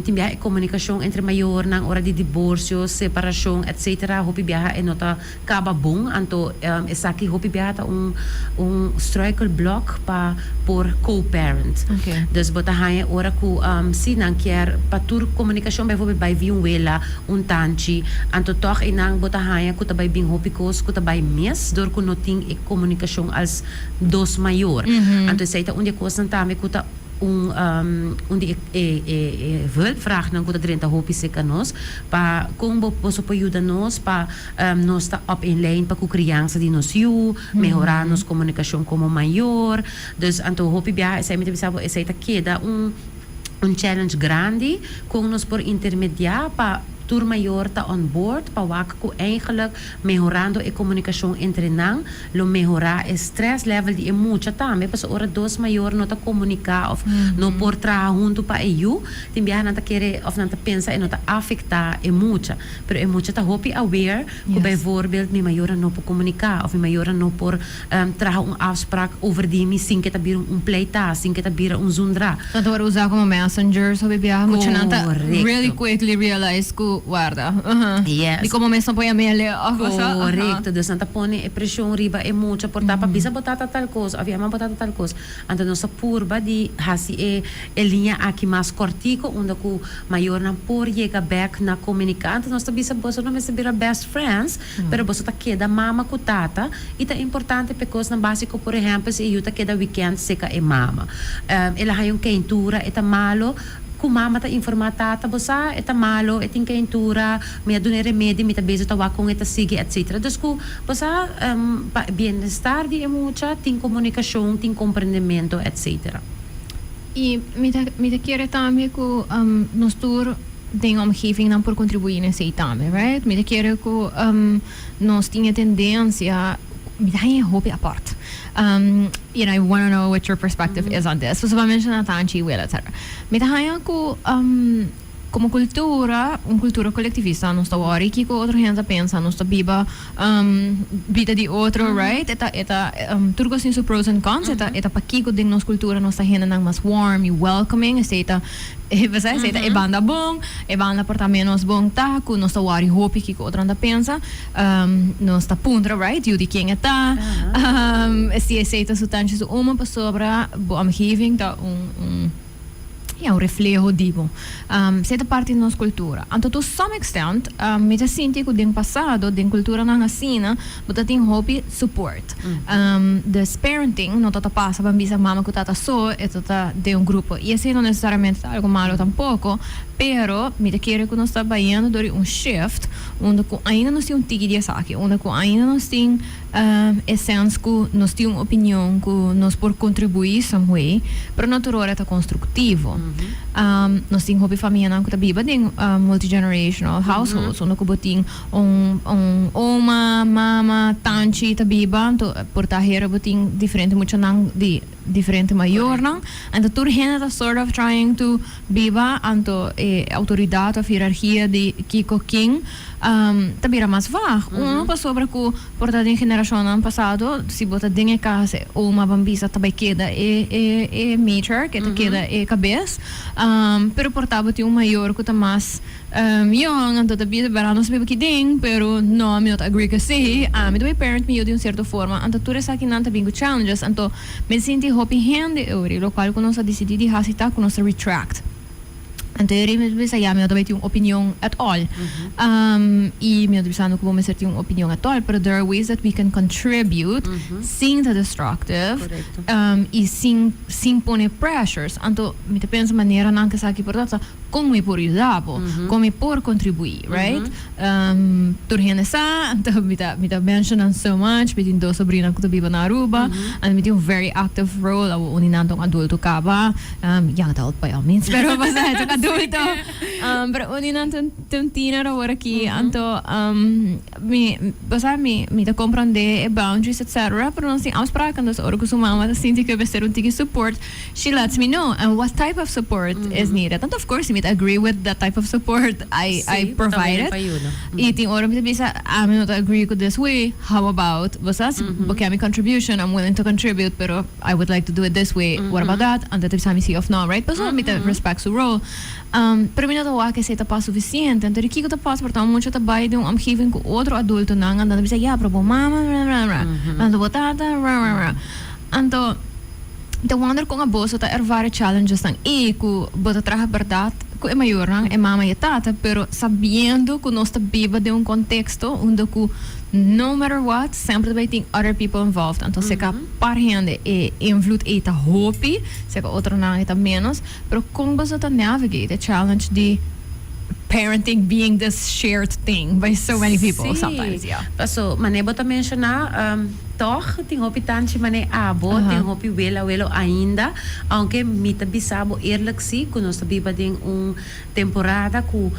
tin biaha e comunicacion entre mayornan ora di divorcio, separacion, etc. Hopi biaha e no ta caba bon, anto esaki hopi biaha ta un un struikelblok pa por co-parent. Dus bo ta haya ora cu si nan kier pa tur comunicacion bijvoorbeeld bay via un wela Un tanchi, anto tòg einan bo ta haña ku ta bai bin hopi kos ku ta bai mes dor ku no tin e komunikashon als dos mayor. Anto esei ta un di e kosnan tambe ku ta un un di e hulpvraagnan ku ta drenta hopi serka nos. Pa kon bo boso por yuda nos pa nos ta op een lijn pa ku kriansa di nos yu, mehorá nos komunikashon komo mayor? Dus anto hopi biaha esei mi ta bisa bo esei ta keda un Un challenge grandi kon nos por intermediá pa tur mayor ta on board pa wak ku eigenlik mehorando e komunikashon entre nan lo mehorá e stress level di e mucha tambe pasobra ora dos mayor no ta komuniká òf no por traha huntu pa e yu tin biaha nan ta kere òf nan ta pensa e no ta afektá e mucha pero e mucha ta hopi aware ku bijvoorbeeld mi mayornan no por komuniká òf mi mayornan no por. traha un afsprak over di mi sin ke ta bira un pleitá, sin ke ta bira un zundrá. Nan ta wòrdu usá komo messengers hopi biaha ku nan ta really quickly realize ku warda di komo mes nan pone amele òf kusá. Korekto. Dus nan ta pone e preshon riba e mucha por ta pa bisa bo tata tal kos òf yama bo tata tal kos. Anto nos ta purba di hasi e e liña aki mas kòrtiko unda ku mayornan por yega bèk na komuniká. Anto nos ta bisa boso no mester bira best friends. Pero boso ta keda mama ku tata i ta importante p'e kosnan básiko, por ehèmpel si e yu ta keda wikènt seka e mama, el a haña un keintura, e ta malu ku mama ta informá tata, bo sa e ta malu, e tin keintura, mi a dun'e remedi, mi ta bezig ta wak kon e ta sigui, etcétera. Dus ku bo sa pa bienestar di e mucha tin komunikashon, tin komprendementu, etcétera. I mi ta mi ta kere tambe ku nos tur. Den omgeving nan por kontribuí nes ei tambe right mi ta kere ku nos tin e tendensia mi ta haña e hopi apòrt and I wanna know what your perspective is on this pasobra menshoná tanchi wei later mi ta haña ku komo kultura un kultura kolektivista nos ta wòri kiko otro hende ta pensa nos ta biba. bida di otro right e ta e ta tur cos tin su pros and cons e ta e ta pakico den nos cultura nos ta hendenan mas warm y welcoming esey ta esey esey ta e banda bon e banda por ta menos bon ta cu nos ta worry hopi kico otronan ta pensa nos ta puntra right yu di ken e ta si esey ta su tanchi su uma pasobra bo am giving ta un un. ya un refleho di bo. Um, si e ta parti di nos kultura. Anto to some extent, um, mi ta sinti ku den pasado, den kulturanan asina, bo ta tin hopi support. Um, dus parenting no ta ta pasa pa bisa mama ku tata so, e ta ta den un grupo. I esei no nesesariamente ta algu malu tampoko, pero mi ta kere ku nos ta bayendo dor di un shift unda ku ainda nos tin un tiki di esaki, unda ku ainda nos tin. E sens ku nos tin un opinion ku nos por kontribuí somehoe, pero no tur ora ta konstruktivo. Nos tin hopi famianan ku ta biba den multigenerational households, unda ku bo tin un un oma, mama, tanchi ta biba, anto por ta hera bo tin diferente muchanan di. diferente mayornan, anto tur hende ta sort of trying to biba anto e autoridad of hierarchia di kico kin ta bira mas vag. Uno pasobra cu por ta den generacionnan pasado si bo ta den e cas e oma ban bisa ta bay keda e e matriarch e ta keda e cabez pero por ta bo tin un mayor cu ta mas. Yoon, Anto ta bisa berao nos biba aki den, pero no, mi no ta agree cu si. Ami ta bay parent mi yu di un cierto forma, anto tur esakinan ta bin cu challenges, anto mi sinti hopi hende euri, locual cu nos a dicidi di haci ta cu nos ta retract. Anto e rin mi ta bisa, ya, mi no ta bay tin un opinion at all. Y mi no ta bisando cu bo mester tin un opinion at all, pero there are ways that we can contribute sin ta destructive y sin pone pressures. Anto mi ta pensa manera nan cu esaki por ta. Con mi por yuda bo? Con mi por contribui? Right? Tur hende sa, mi ta mi ta mencionan so much, mi tin dos sobrinanan cu ta biba na Aruba, and mi tin un very active role, awo un di nan ta un adulto caba, ya no ta old pa yo, mi spero bo pasa het un adulto, pero un di nan ta un teener awor aki, anto. Mi, bo sa, mi, mi ta comprende e boundaries etc. Pero nos tin afspraken, dus ora cu su mama ta sinti cu e mester un tiki support, she lets me know, and what type of support is needed. Anto of course, si mi ta agree with that type of support, I, I provide it. Y tin ora mi ta bisa, ami no ta agree cu this way, how about, bo sa, si bo ken mi contribution, I'm willing to contribute, pero I would like to do it this way, what about that? Anto e ta bisa mi si of no, right? Pasobra mi ta respect su role. Pero mi no ta wak esei ta pas sufisiente. Anto di kiko ta pas? Porta un mucha ta bai den un omgeving ku otro adultonan anto nan ta bisa, ya, pero bo mama rararara, anto bo tata rararara. Anto ta wonder kon a boso ta ervara e challengesnan i ku bo ta traha bèrdat ku e mayornan, e mama i e tata, pero sabiendo ku nos ta biba den un konteksto unda ku no matter what semper ta bai tin other people involved. Anto seka par hende e invloed ei ta hopi, seka otronan e ta ménos. Pero con boso ta navigate e challenge di parenting being this shared thing by so many people sometimes? Yeah. Sí, paso mane bo ta menciona, tog tin hopi tanchi mane abo, tin hopi wel, awelo ainda, aunke mi ta bisa bo eerlijk si cu nos ta biba den un Temporada ku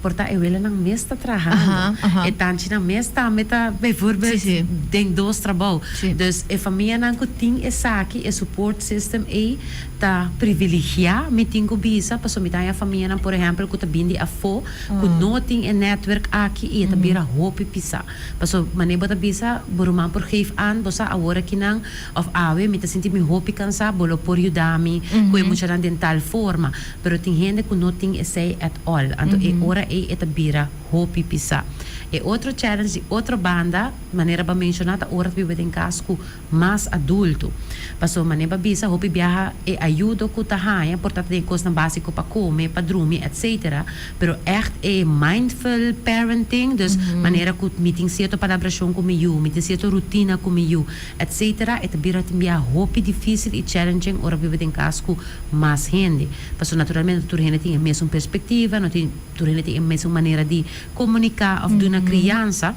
por ta e welanan mes ta trahando, e tanchinan mes tambe ta bijvoorbeeld den dos trabou. Dus e famianan ku tin esaki, e support system ei, ta priviligiá, mi tin ku bisa, pasobra mi ta haña famianan, por ehèmpel, ku ta bini di afó, ku no tin e netwerk aki i e ta bira hopi pisá. Pasobra mané bo ta bisa, bo ruman por geef aan, bo sa awor akinan, Of awe mi ta sinti mi hopi kansa, bo lo por yuda mi ku e muchanan den tal forma. Pero tin hende ku no tin esei at all, anto e ora ei e ta bira hopi pisá. E otro challenge di otro banda, manera ba menshoná, ta ora ta biba den kas ku mas adultu. Pasobra manera ba bisa, hopi biaha e ayudo ku ta haña por ta ta den e kosnan básiko pa kome, pa drumi, etcétera. Pero ègt e mindful parenting, dus manera ku mi tin sierto palabrashon ku mi yu, mi tin sierto rutina ku mi yu, etc. E ta bira tin biaha hopi difísil i challenging ora biba den kas ku mas hende. Pasobra naturalmente no tur hende tin e mesun perspektiva, no tin tur hende tin e mesun manera di komuniká òf duna kriansa.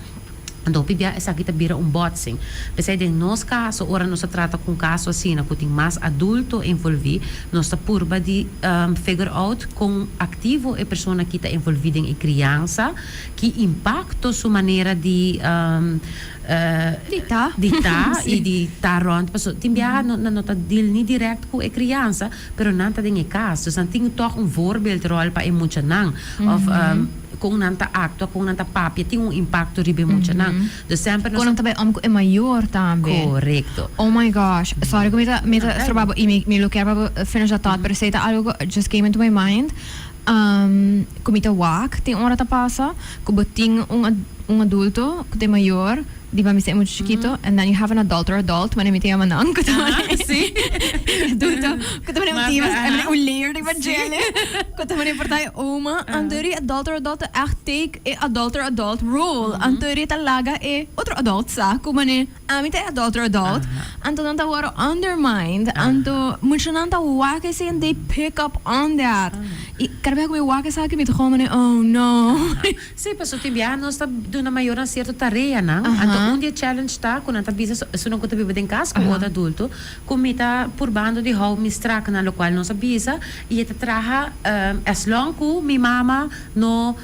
Anto hopi biaha esaki ta bira un bòtsing. P'esei den nos kaso, ora nos ta trata ku un kaso asina ku tin mas adulto envolví, nos ta purba di figure out kon aktivo e persona ki ta envolví den e kriansa, ki impakto su manera di. di ta y di ta rond, paso tin biaha nan no ta deal ni direct cu e criansa, pero nan ta den e cas, dus nan tin toch un voorbeeldrol pa e muchanan, of con nan ta actua, con nan ta papia, tin un impacto riba e muchanan. Dus semper nos a. Con nan ta bay om cu e mayor tambe. Correcto. Oh my gosh, sorry cu mi ta, mi ta strobabo y mi, mi lo kier pa finishá tot, pero esey ta algo cu just came into my mind. Cu mi ta wak tin ora ta pasa cu bo tin un adulto cu ta e mayor di bo a mester e mucho chikito and then you have an adult or adult mane mi ta yama nan cu ta mane e adulto cu ta mane un tima cu ta mane un layer riba djele cu ta mane porta e oma anto ri adult or adult ta echt take e adult or adult role anto ri ta laga e otro adult sa cu mane. Ami ta e adulter adult, anto nan ta worde undermined, anto muchanan ta wak esei and they pick up on that. I kada bia ku mi wak esaki mi ta komo ne, oh no. Sí, pasobra biaha nos ta duna mayornan sierto tareanan, anto un di e challenge ta ku nan ta bisa esunnan ku ta biba den kas ku otro adulto ku mi ta purbando di hou mi straknan, lokual nos a bisa i e ta traha as long ku mi mama no.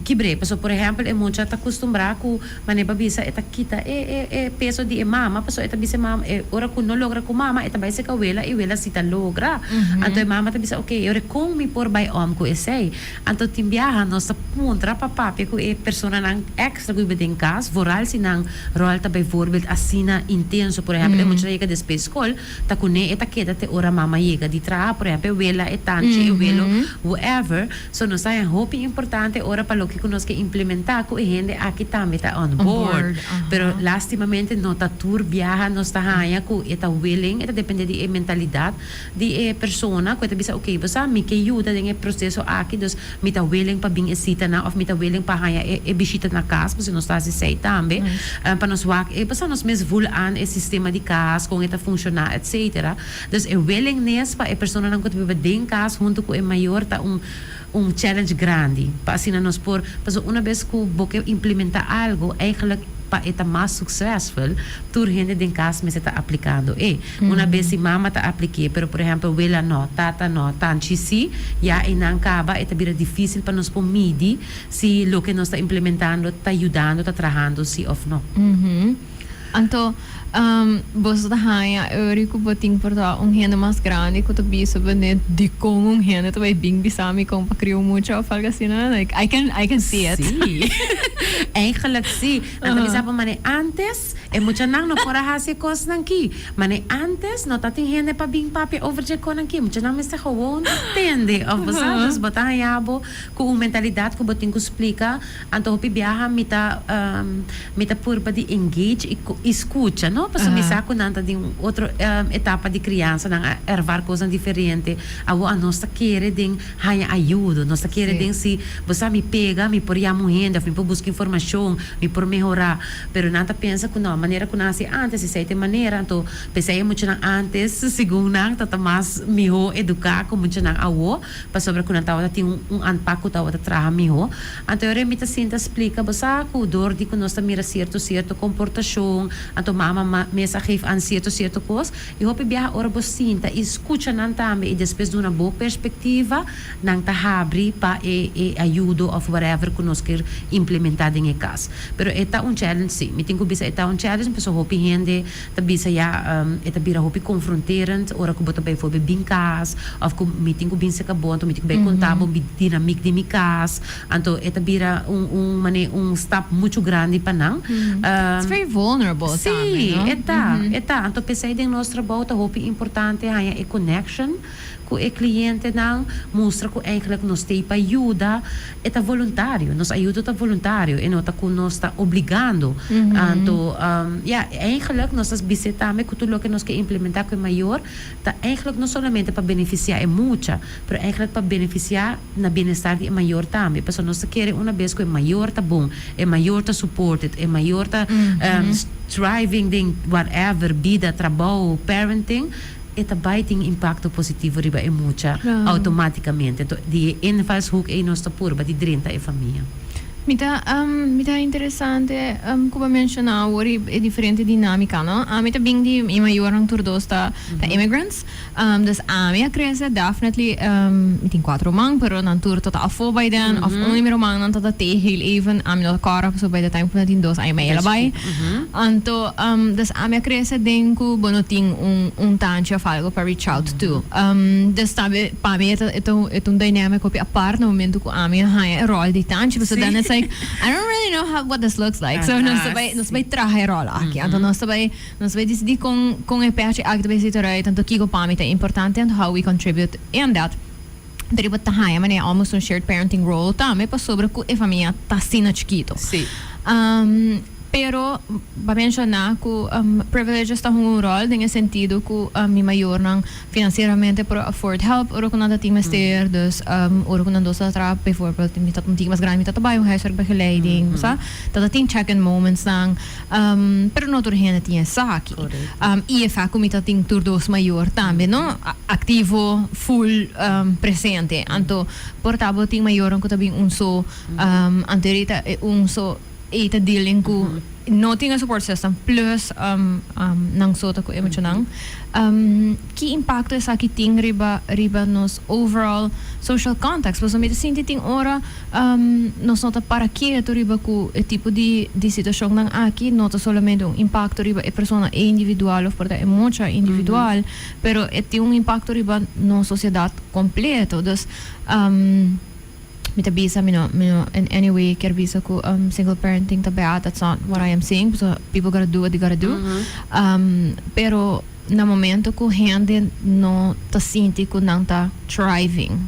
Kibr'é, pasobra por ehèmpel e mucha ta kustumbrá ku manera pa bisa e ta kita e e e peso di e mama, pasobra e ta bisa e mama e ora ku no logra ku mama e ta bai seka wela i wela si ta logra. Anto e mama ta bisa ok, e ora kon mi por bai om ku esei? Anto tin biaha nos ta puntra pa papia ku e personanan èkstra ku biba den kas vooral si nan ròl ta bijvoorbeeld asina intenso. Por ehèmpel e mucha ta yega despues skol ta kuné e ta keda te ora mama yega di traha, por ehèmpel e wela, e tanchi, e welo, whoever. So nos ta hopi importante ora pa loke ku nos ke implementá ku e hende aki tambe ta on board. Pero lastimamente no ta tur biaha nos ta haña ku e ta willing, e ta dependé di e mentalidat di e persona ku e ta bisa oke bo sa mi ke yuda den e proseso aki dus mi ta willing pa bin e sitanan òf mi ta willing pa haña e bishita na kas pasobra nos ta hasi esei tambe pa nos wak e bo sa nos mes vul an e sistema di kas kon e ta funshoná etcetera. Dus e willingness pa e personanan ku ta biba den kas huntu ku e mayor ta un un challenge grandi. Pa asina nos por, pasobra una bes ku bo ke implementá algu, eigenlijk pa e ta mas suksesful, tur hende den kas mester ta aplikando e. Una bes si mama ta aplik'é, pero por ehèmpel wela nò, tata nò, tanchi sí, ya einan kaba e ta bira difísil pa nos por midi si loke nos ta implementando ta yudando, ta trahando sí òf nò. Anto, boso ta haña e ori ku bo tin por ta un hende mas grandi ku ta bisa bo net dikon un hende ta bai bin bisa mi kon pa krio mucha òf algu asina? Like, I can, I can see it. Sí. Eigenlijk sí. Nan ta bisa bo, Mane, ántes e muchanan no por a hasi e kosnan akí. Mane, ántes no tatin hende pa bin papia over dje konan akí. Muchanan mester gewoon tende. Òf bo sa. Dus bo ta haña bo ku un mentalidad ku bo tin ku splika. Anto hopi biaha mi ta mi ta purba di engage y scucha no pasobra mi sa cu nan ta den otro etapa di crianza nan a ervar cosnan diferente awo anos ta kere den haya ayudo nos ta kere den si bo sa mi pega mi por yama un hende of mi por busca informacion mi por mehora pero nan ta pensa cu no manera cu nan a haci antes esey ta e manera anto pesey e muchanan antes segun nan ta ta mas miho educa cu muchanan awo. pasobra ku nan tabata tin un anpak ku tabata traha mihó. Anto yore mi ta sinta splika bo sa ku dor di ku nos ta mira sierto sierto komportashon, anto mama mes a geef an sierto sierto kos. I hopi biaha ora bo sinta i skucha nan tambe i despues duna bo perspektiva, nan ta habri pa e e ayudo òf whatever ku nos kier implementá den e kas. Pero e ta un challenge si. Mi tin ku bisa e ta un challenge pasobra hopi hende. Ta bisa ya, e ta bira hopi confronterend ora cu bo ta bay for bay bin cas of cu mi tin cu bin seca bo, anto mi tin cu bay conta bo mi dinamic di mi cas, anto e ta bira un un mane un stap mucho grandi pa nan. It's very vulnerable tambe, no? Si, e ta, e ta. Anto pesey den nos trabou ta hopi importante haya e connection. Ku e klientenan mustra ku eigelik nos tei pa yuda, e ta voluntario. Nos ayudo ta voluntario, e no ta ku nos ta obligando. Anto, ya, eigelik nos ta bisé tambe ku tur loke nos ke implementá ku e mayor ta eigelik no solamente pa benefisiá e mucha, pero eigelik pa benefisiá na bienestar di e mayor tambe. Pasobra nos ta kere una bes ku e mayor ta bon, e mayor ta supported, e mayor ta striving den whatever, bida, trabou, parenting. e ta bai tin impakto positivo riba e mucha outomátikamente. Anto di e invalshoek ei nos ta purba di drenta e famia. Mi ta mi ta interesante ku bo menshona awor e diferente dinámika, no? Ami ta bin di mi mayornan tur dos ta ta immigrants. Dus ami a krese definitely mi tin kuater ruman pero nan tur ta ta afó bai den òf un di mi rumannan ta ta tehi heel even ami no ta kòrda pasobra bai de time ku nan tin dos aña mi a yala bai. Anto, dus ami a krese den ku bo no tin un un tanchi òf algu pa reach out to. Dus tambe pa mi e ta e ta e ta un dynamic hopi apart na momentu ku ami a haña e ròl di tanchi pasobra dan it's like I don't really know how what this looks like so nos ta bai nos ta bai traha e ròl aki anto nos ta bai nos ta bai disidí kon kon e pèchi aki ta bai situará e tanto kiko pa mi ta importante anto how we contribute i and that. Riba ta haña mane almost un shared parenting role tambe pasobra cu e famia ta asina chikito. Sí. Um, pero pa menciona cu um, privileges ta hunga un rol den e sentido cu um, mi mayornan financieramente por afford help ora cu nan ta tin mester. Dus um, ora cu nan dos ta traha, bijvoorbeeld mi tata un tiki mas grandi, mi tata bai un huiswerk begeleiding, bo sa, ta ta tin check-in momentsnan. Pero no tur hende tin esaki. I efect cu mi ta tin tur dos mayor tambe no activo full presente. Anto por ta bo tin mayornan cu ta bin un so anterior y ta un so y ta dealing cu no tin e support system plus nan so ta cu e mucho nan. Ki impacto esaki tin riba riba nos overall social context? Pasobra mi ta sinti tin ora. Nos no ta para kieto riba cu e tipo di di situacionnan aki no ta solamente un impacto riba e persona e individual of por ta e mucha individual, pero e tin un impacto riba nos sociedad completo. Dus, mi ta bisa, mi no, mi no in any way kier bisa cu single parenting ta bad, that's not what I am saying, pasobra people gotta do what they gotta do, pero. na momento cu hende no ta sinti cu nan ta thriving,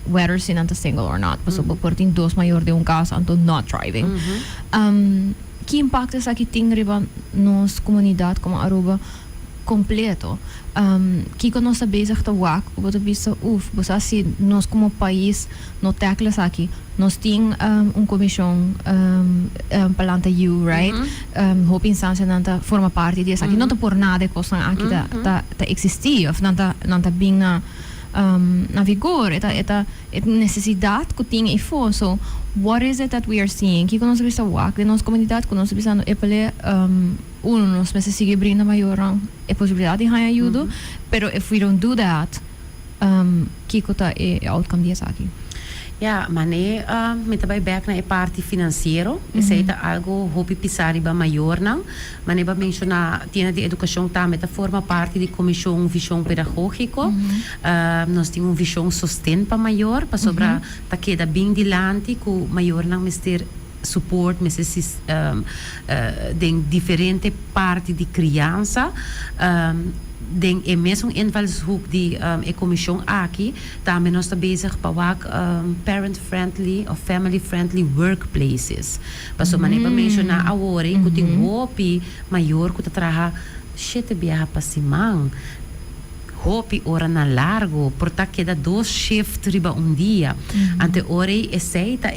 whether si nan ta single or not, pasobra bo por tin dos mayor den un casa anto not thriving. Ki impacto esaki tin riba nos comunidad como Aruba completo? Kico nos ta bezig ta wak cu bo ta bisa, uf, bo sa si nos como pais. No tackle esaki. Nos tin un comishon pa lanta yiu, right? Hopi instancianan ta forma parti di esaki. No ta por nada e cosnan aki ta existi of nan ta nan ta bin na na vigor. E ta e ta e necesidad cu tin eyfo. So, what is it that we are seeing? Kico nos ta bisa wak den nos comunidad cu nos ta bisando epele uno nos mester sigui brinda mayornan e posibilidad di haña yudo, pero if we don't do that, Kiko ta e outcome di esaki? Ya, manera mi ta bai bek na e parti financiero, esei ta algo hopi pisa riba mayornan. Manera bo a menciona, tienda di educacion tambe ta forma parti di comision vision pedagogico. Nos tin un vision sosten pa mayor, pasobra ta keda bin dilanti cu mayornan mester. support mester sista den diferente parti di criansa den e mesun invalshoek di e comision aki tambe nos ta bezig pa wak parent friendly of family friendly workplaces paso manera bo menciona awor cu tin hopi mayor cu ta traha shete biaha pa siman hopi ora na largo por ta keda dos shift riba un dia anto ora esey ta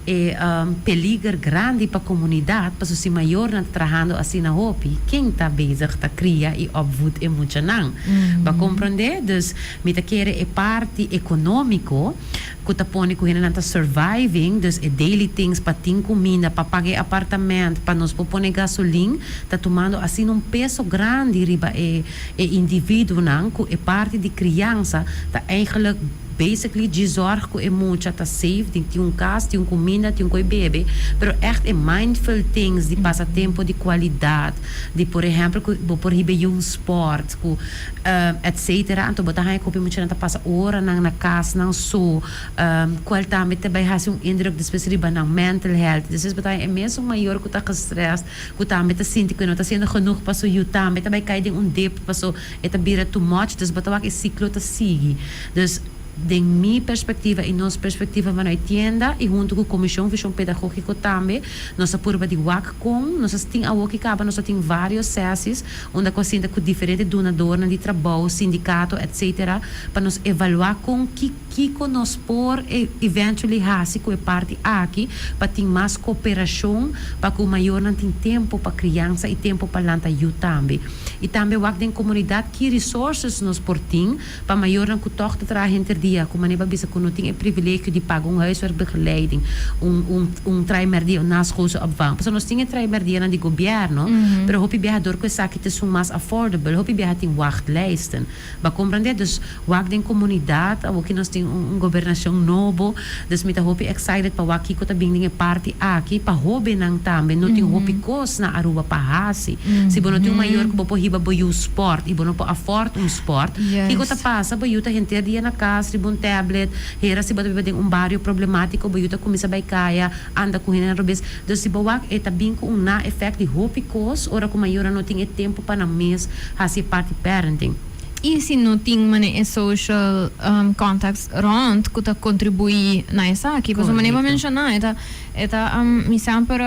E un peliger grandi pa comunidad paso si mayornan ta trahando asina hopi, ken ta bezig ta cria y opvoed e muchanan? Bo comprende? Dus mi ta kere e parti economico cu ta pone cu hendenan ta surviving, dus e daily things pa tin cuminda, pa paga e apartament, pa nos por pone gasolin, ta tumando asina un peso grandi riba e individuonan cu e parti di criansa ta eigenlijk. Basically dji zorg cu e mucha ta safe di tin un cas, tin un cuminda, tin un coi bebe, pero echt e mindful things di pasa tempo di cualidad, di por ehempel cu bo por hiba yiun sport cu etc. Anto bo ta haya cu hopi muchanan ta pasa oranan na cas nan so, cual tambe ta bay haci un indruk despues riba nan mental health. Despues bo ta haya e mesun mayor cu ta gestrest, cu tambe ta sinti cu e no ta haciendo genoeg pa su yu, tambe ta bay cay den un dip paso E ta bira too much, dus bata wak e ciclo ta sigui. Dus den mi perspectiva y nos perspectiva van noi tienda y hunto cu Comision Vision Pedagogico tambe nos a purba di wak con nos a tin awo ki caba nos a tin varios sesis unda cu a sinta cu diferente dunadornan di trabou, sindicato etc. Pa nos evalua con ki Kiko nos por eventually hasi ku e parti aki pa tin mas koperashon pa ku mayornan tin tempu pa kriansa i tempu pa lanta yu tambe? I tambe wak den komunidat ki resources nos por tin pa mayornan ku tòg ta traha henter dia ku manera pa bisa ku no tin e privilegio di paga un huiswerkbegeleiding, un un un traai merdia òf naskoolsopvang. Pasobra nos tin e traai merdianan di gobièrnu, pero hopi biahador ku esaki ta esun mas affordable. Hopi biaha tin wàglijsten. Ba comprende? Dus wak den comunidad, awoki nos tin un gobernacion nobo, dus mi ta hopi excited pa wak kico ta bin den e parti aki. Pa hobennan tambe, no tin hopi cos na Aruba pa haci. Si bo no tin un mayor cu bo por hiba bo yu sport y bo no por afford un sport, kico ta pasa? Bo yu ta henter dia na cas riba un tablet, hera si bo ta biba den un barrio problematico, bo yu ta cuminsa bay caya, Anda cu hende robes. Dus si bo wak e ta bin cu un na effect di hopi cos ora cu mayornan no tin e tempo pa nan mes haci e parti parenting. Y si no tin mane e social contacts rond cu ta contribui na esaki. Pasobra mane bo a menciona e ta e ta mi semper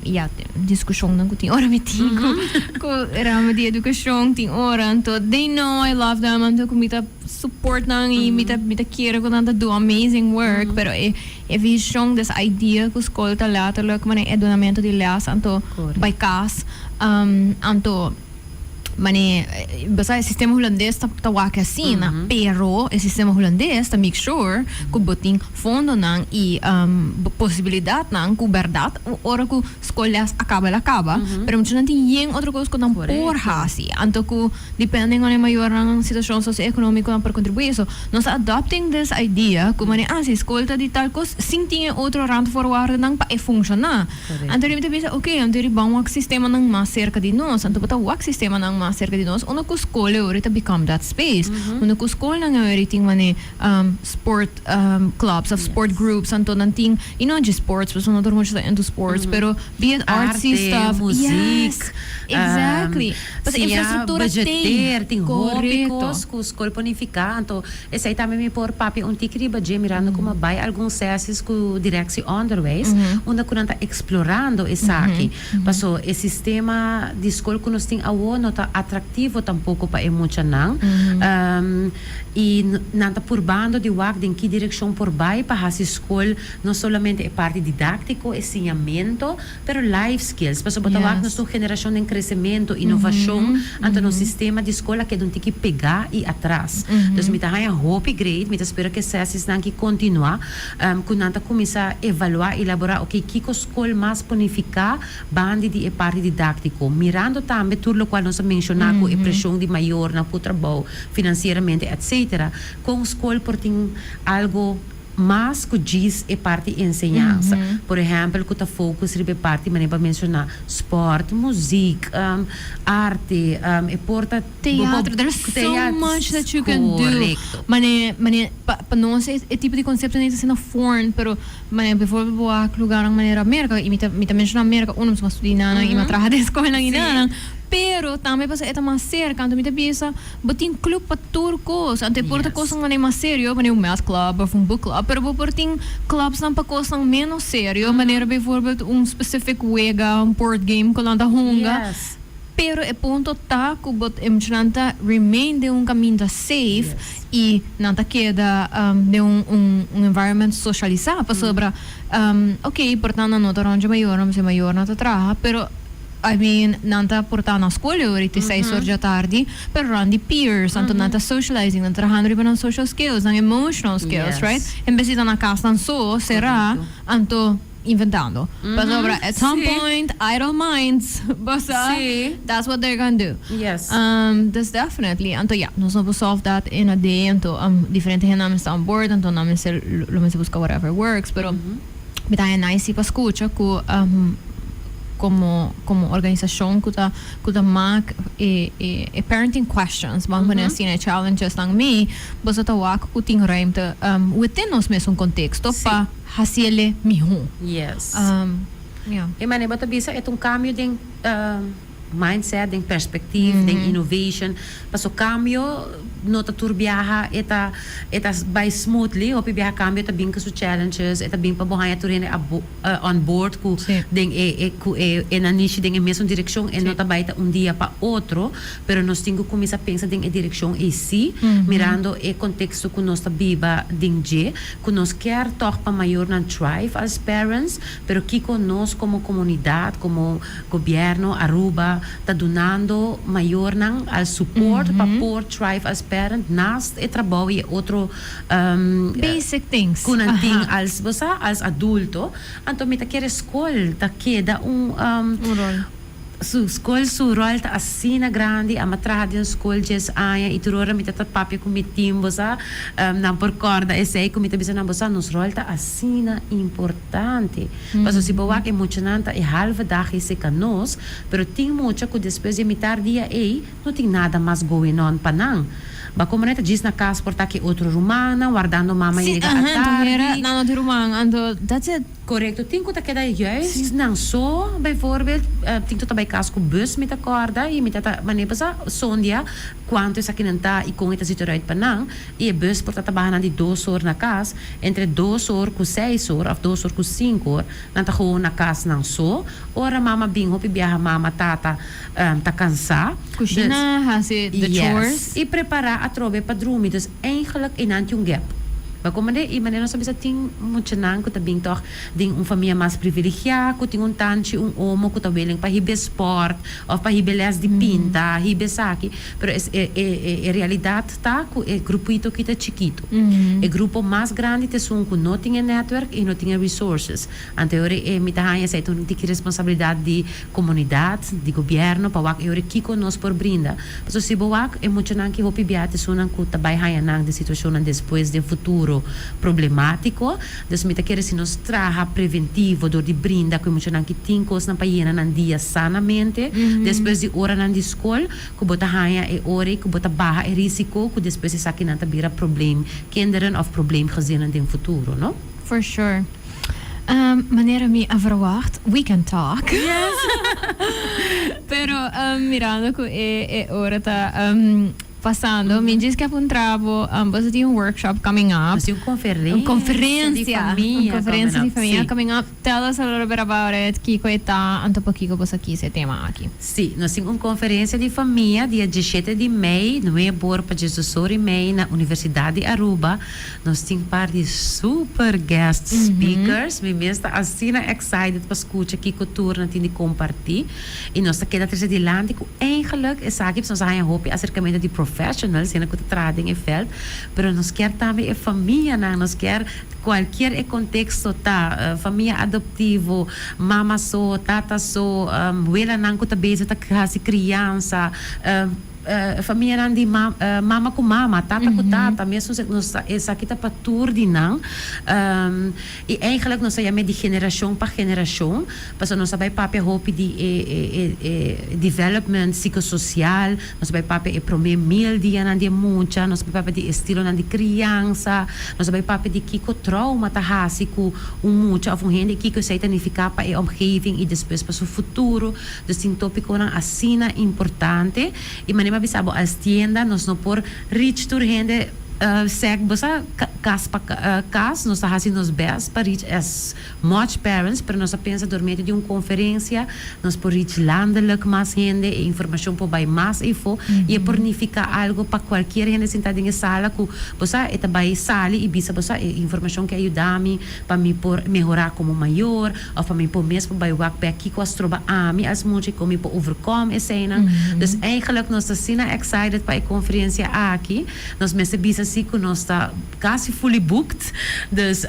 ya discusionnan cu tin ora mi tin cu cu rama di educacion tin ora. Enton dey no I love them anto cu mi ta. Suportnan y mi ta mi ta kere cu nan ta do amazing work pero e e vision des idea cu school ta letterlijk mane e donamento di les anto bay cas anto mane bosa e sistema hulandes ta ta wak asina pero e sistema hulandes ta make sure cu bo tin fondonan y bo posibilidadnan cu berdad ora cu Scolas a caba la caba, pero muchanan tin yen otro cos cu nan por haci, anto cu depende ngone mayornan situacion socio-economico nan por contribui. So, nos ta adopting this idea cu mane, ah, si scol ta di tal cos, sin tin e otro randvoorwaardennan pa e funciona, anto rimi ta bisa, ok, anto iri ban wak sistemanan mas cerca di nos. Anto bo ta wak sistemanan mas cerca di nos unda cu scol e ora ta become that space, unda cu scolnan e ora tin mane, sport clubs of sport groups anto nan tin y no dje sports pasobra no tur mucha ta into sports pero be it artsy stuff yes exactly pasobra infrastructura tin correcto cu scol por nifica anto esai tambe mi por papia un tiki riba dje mirando como a bay algun sesis cu direcci onderwijs unda cu nan ta explorando esaki pasobra e sistema di scol cu nos tin awo no ta atractivo tampoco pa e mucha nan. y nan ta purbando di wak den ki direccion por bay pa haci school no solamente e parti didactico, e siñamento, pero life skills, paso bo ta wak nos ta un generacion den crecemento, innovacion, anto nos sistema di school a keda un tiki pega y atras. Dus mi ta haña hopi great, mi ta spera cu e sesis nan ki continua, cu nan ta cuminsa evalua y elabora, ok, kico school mas po nifica, Bandi di e parti didáktiko, mirando tambe tur lokual nos a menshoná ku e preshon di mayornan ku trabou finansieramente, etsétera, kon skol por tin algu mas ku djis e parti enseñansa, por ehèmpel ku ta fokus riba e parti manera pa menshoná spòrt, muzik, arte, e por ta Teatro, there is so much that you can do, korekto. Mane, mane, pa pa nos e tipo di konseptonan ta siña fòrn, pero. Manera bivoorbeeld bo a lugarnan manera Amerika, y mi ta mi ta menciona Amerika uno pasobra mi a studia nannan y mi a traha den escuelnan y nannan, pero tambe pasobra e ta mas cerca anto mi ta bisa bo tin club pa tur cos, anto e por ta cosnan manera mas serio manera un math club of un book club, pero bo por tin clubsnan pa cosnan menos serio manera bivoorbeeld un specific wega, un board game cu nan ta hunga. Pero e punto ta cu bo tmchnan ta remain den un caminda safe y nan ta keda den un environment socialisa. Pasobra ok, por ta nan no ta rond dje mayornan, bsey mayornan ta traha, pero I mean nan ta por ta na school e ora y te seis or dje atardi, pero rond di peers, anto nan ta socializing, nan ta trahando riba nan social skills, nan emotional skills, right? En bes di ta na casnan so, cera, anto. inventando. Pasobra at some point idle minds bo sa that's what they're gonna do. Dus definitely anto ya nos no por solve dat in a day anto diferente hende nan a mester on board anto nan mester lo mester busca whatever works pero mi ta haña nice si pa scucha cu como como organisacion cu ta cu ta mak e e e parenting questions bo a pone asi na e challenges nan mee boso ta wak cu tin ruimte within nos mesun contexto pa Hasi el'e mihó. Yes. Um, ja. E manera bo ta bisa e ta un cambio den um, mindset, den perspectief, den innovation. Paso cambio no ta tur biaha e ta e ta bai smoothly. Hopi biaha cambio ta bin cu su challenges. E ta bin pa bo haña tur hende abo on board cu Sí. den e e cu e e nan nishi den e mesun direccion. E Sí. no ta bai ta un dia pa otro, pero nos tin cu cuminsa pensa den e direccion eysi, mirando e contexto cu nos ta biba den dje. cu nos kier toch pa mayornan thrive als parents, pero kico nos como comunidad, como Gobierno Aruba ta dunando mayornan als support pa por thrive als parent naast e trabou y e otro cu nan tin als, bo sa, als adulto, anto mi ta kere school ta keda un. Su skol su ròl ta asina grandi. A mi a traha den skol dies aña i tur ora mi ta ta papia ku mi tin, bo sa, nan por kòrda esei ku mi ta bisa nan, bo sa, nos ròl ta asina importante. Pasobra si bo wak e muchanan ta e halve dag e seka nos, pero tin mucha ku despues di e mitar dia ei no tin nada mas going on pa nan. Ba komo nan e ta djis na kas por ta ku e otro rumannan wardando mama yega a tardi. Korekto, tin ku ta keda juist. Si nan so, bijvoorbeeld, tin ku ta bai kas ku bus, mi ta kòrda i mi ta ta, Mane pa sa Sondia kuantu esakinan ta i kon e ta zitu eruit pa nan? I e bus por ta ta baha nan di dos or na kas, entre dos or ku seis or òf dos or ku sinku or, nan ta gewoon na kas nan so. Ora mama bin, hopi biaha mama, tata ta kansá. Kushina, hasi the chores. Yes, i prepará atrobe pa drumi. Dus, Eigenlijk einan tin un gap. Pa kon manera i manera nos ta bisa tin muchanan ku ta bin tòg den un famia mas privilegiá ku tin un tanchi un omo ku ta welen pa hib'é spòrt òf pa hib'é lès di pinta hib'é esaki pero es e e realidat ta ku e grupuito aki ta chikitu e grupo mas grandi ta esun ku no tin e netwerk i no tin e resources Anteori e mi ta haña esei tur mi tiki responsabilidat di komunidat, di gobièrnu pa wak e ora kiko nos por brinda. Pasobra si bo wak e muchanan ki hopi biaha ta esunnan ku ta bai haña nan den situashonnan despues den futuro problemátiko. Entonces mi ta kere si nos traha preventivo dor di brinda ku e muchanan ki tin kosnan pa yena nan dia sanamente despues di oranan di skol ku bo ta haña e ora ei ku bo ta baha e risiko ku despues esakinan ta bira probleemkinderen òf probleemgezinnen den futuro, no? For sure. Ehm, manera mi a verwacht, we can talk. Yes. Pero, ehm, mirando cu e, e ora ta, ehm, pasando, mi djis kep un trabo, ehm, boso tin un workshop coming up. Haci un conferencia. Un conferencia. Un conferencia di famia coming up. Tell us a little bit about it, kico e ta, anto pokico boso kiss e tema aki. Si, nos tin un conferencia di famia dia dieshete di mei, nuebe ora pa diesdos ora y mei, na Universidad di Aruba. Nos tin par di super guest speakers, mi mes ta asina excited pa scucha kico tur nan tin di comparti y nos ta keda trece dilanti cu ein geluk esaki pues nos a haya hopi acercamento di professionals hende cu ta traha den e veld pero nos kier tambe e famianan, nos kier cualkier e contexto ta, famia adoptivo, mama so, tata so, welanan cu ta bezig ta haci criansa. Famianan di mama ku mama, tata ku tata, mesun esaki ta pa tur di nan. I eigenlik nos ta yam'e di generashon pa generashon, pasobra nos a bai papia hopi di e e development sikososial, nos a bai papia e promé mil dianan di e mucha, nos a bai papia di e stilonan di kriansa, nos a bai papia di kiko trouma ta hasi ku un mucha òf un hende i kiko esei ta nifiká pa e omgeving i despues pa su futuro. Nos tin tópikonan asina importante i manera mi a bisa bo als tienda nos no por reach tur hende sèk bo sa kas pa kas nos ta hasi nos bèst pa reach as much parents pero nos ta pensa dor medio di un konferensia nos por reach landelik mas hende e informashon por bai mas efo i e por nifiká algu pa kualkier hende sintá den e sala ku bo sa e ta bai sali i bisa bo sa e informashon ke a yuda mi pa mi por mehorá komo mayor Of a mi por mesmo bai wak bek kiko a stroba ami as mucha y kon mi por overcome eseinan. Dus eigenlijk nos ta asina excited pa e conferencia aki. Nos mester bisa si cu nos ta casi fully booked. Dus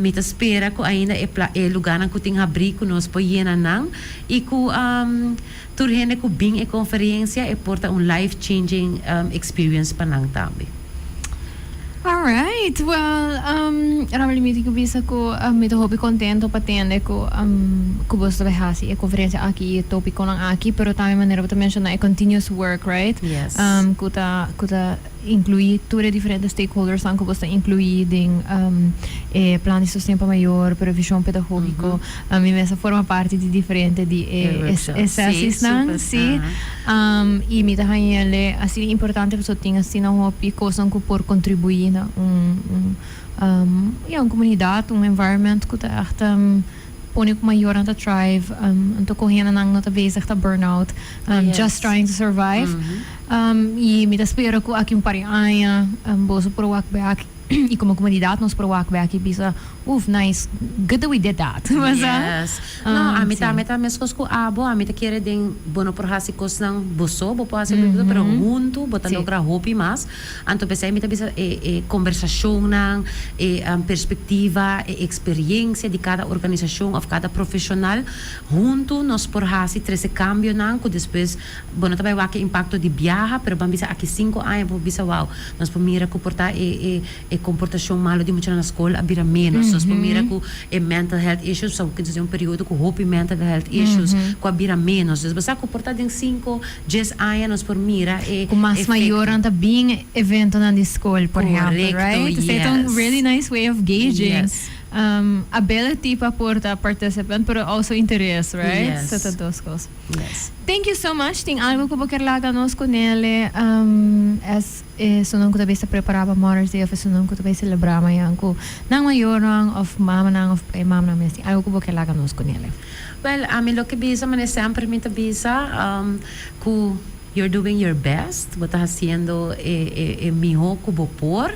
mi ta spera cu ainda e lugarnan cu tin habri cu nos por yena nan y cu Tur hende ku bin e konferensia e por ta un life changing experience pa nan tambe. Alright, well umm Rameli mi tin ke bisa ku mi ta hopi kontento pa tende ku umm ku boso ta bai hasi e konferensia aki i e topikonan aki, pero tambe manera bo ta menshoná e continuous work right? Yes. Umm ku ta ku ta. Inclui tur e diferente stakeholdersnan cu bo sta inclui den e plan di sosten pa mayor, pero vision pedagogico. Mi mes a forma parti di diferente di e sesisnan, si. Y mi ta hanja el'e asina importante pasobra tin asina hopi cosnan cu por contribui na un, ya, un comunidad, un environment cu ta echt. Pone cu mayornan ta thrive, anto con hende nan no ta bezig ta burn out, just trying to survive. Y mi ta spera cu aki un par di aña boso por wak bay aki y como comunidad nos por wak bay aki y bisa, Uff, nice, good that we did that. No, ami ta, ami ta mescos cu abo, ami ta kere den, bo no por haci cosnan bo so, bo por haci loke bo kier, pero hunto bo ta logra hopi mas. Anto p'esei mi ta bisa e e kombersashonnan, e perspektiva, e eksperiensia di kada organisashon òf kada profeshonal huntu nos por hasi trese kambionan ku despues bo no ta bai wak e impakto di biaha pero ban bisa aki sinku aña bo por bisa wou nos por mira ku por ta e e e komportashon malu di muchanan na skol a bira ménos nos por mira ku e mental health issues pasobra kilis ta ser un periodo ku hopi mental health issues ku a bira ménos dus bo sa ku por ta den sinku Djes aña nos por mira e efecto. Cu mas mayornan ta bin eventonan di scol, por ehempel, right? Correcto, Esei ta un yes. really nice way of gauging Yes. um ability pa por ta participant, pero also interes, right? Yes. So ta dos cos. Yes. Thank you so much. Tin algo cu bo kier laga nos cu Nele um as. Esunnan ku ta bisa prepará pa Mother's Day òf esunnan ku ta bai selebrá mañan ku nan mayornan òf mamanan òf e mamanan mes tin algu ku bo ke laga nos ku nel? Wèl, ami lo ke bisa mane semper mi ta bisa ku you're doing your best, bo ta hasiendo e mihó ku bo por.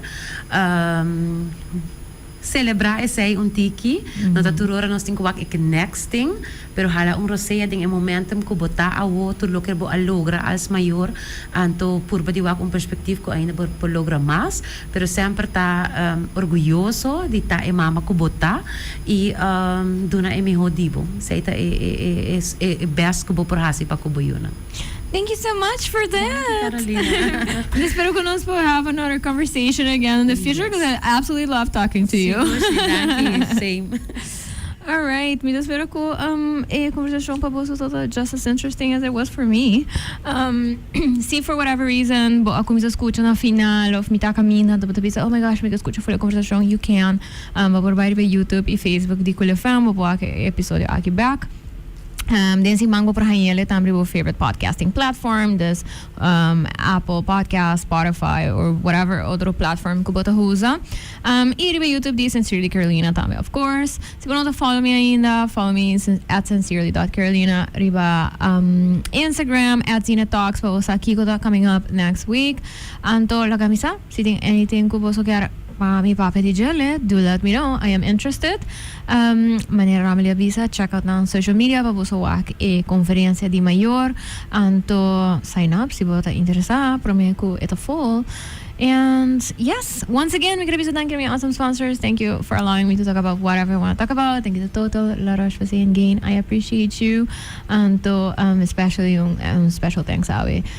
Celebra esey un tiki. No ta tur ora nos tin cu wak e ke next tin, pero hala un rosea den e momentum cu bo ta awo, tur loke bo a logra als mayor, anto purba di wak un perspectief cu ainda bo por logra mas, pero semper ta orguyoso di ta e mama cu bo ta y duna e miho di bo. Esey ta e best cu bo por haci pa cu bo yunan. Thank you so much for that. Gracias Carolina. Mwen espero cu nos por have another conversation again in the future cuz I absolutely love talking to you. Sigur si, danki. Same. Alright, mi ta spera cu um e conversacion pa boso ta ta just as interesting as it was for me. Um si for whatever reason bo a cuminsa scucha na final of mi ta caminda anto bo ta bisa oh my gosh mi ta scucha full e conversacion you can um bo por bai riba Youtube y Facebook di Cool FM bo por haci e episodio aki back. Den sin mango por haña el e tamb riba bo favorite podcasting platform, dus Apple Podcast, Spotify or whatever otro platform cu bo ta usa. Y riba YouTube di Sincerely Carolina tambe of course. Si bo no ta follow mi ainda, follow mi at sincerely dot carolina riba Instagram, at Zeenatalks pa bo sa kico ta coming up next week. Anto, lo ke a misa? Si tin anything cu boso kier pa mi papia di djele, do let me know, I am interested. Manera Rameli a bisa, check out nan social media pa boso wak e conferencia di mayor, anto sign up si bo ta interesa prome cu e ta full. And yes! Once again mi quiere bisa danki na mi awesome sponsors, thank you for allowing me to talk about whatever I wanna talk about, danki ta Total, La Roche Posay and Gain, I appreciate you, anto especially un special thanks awe.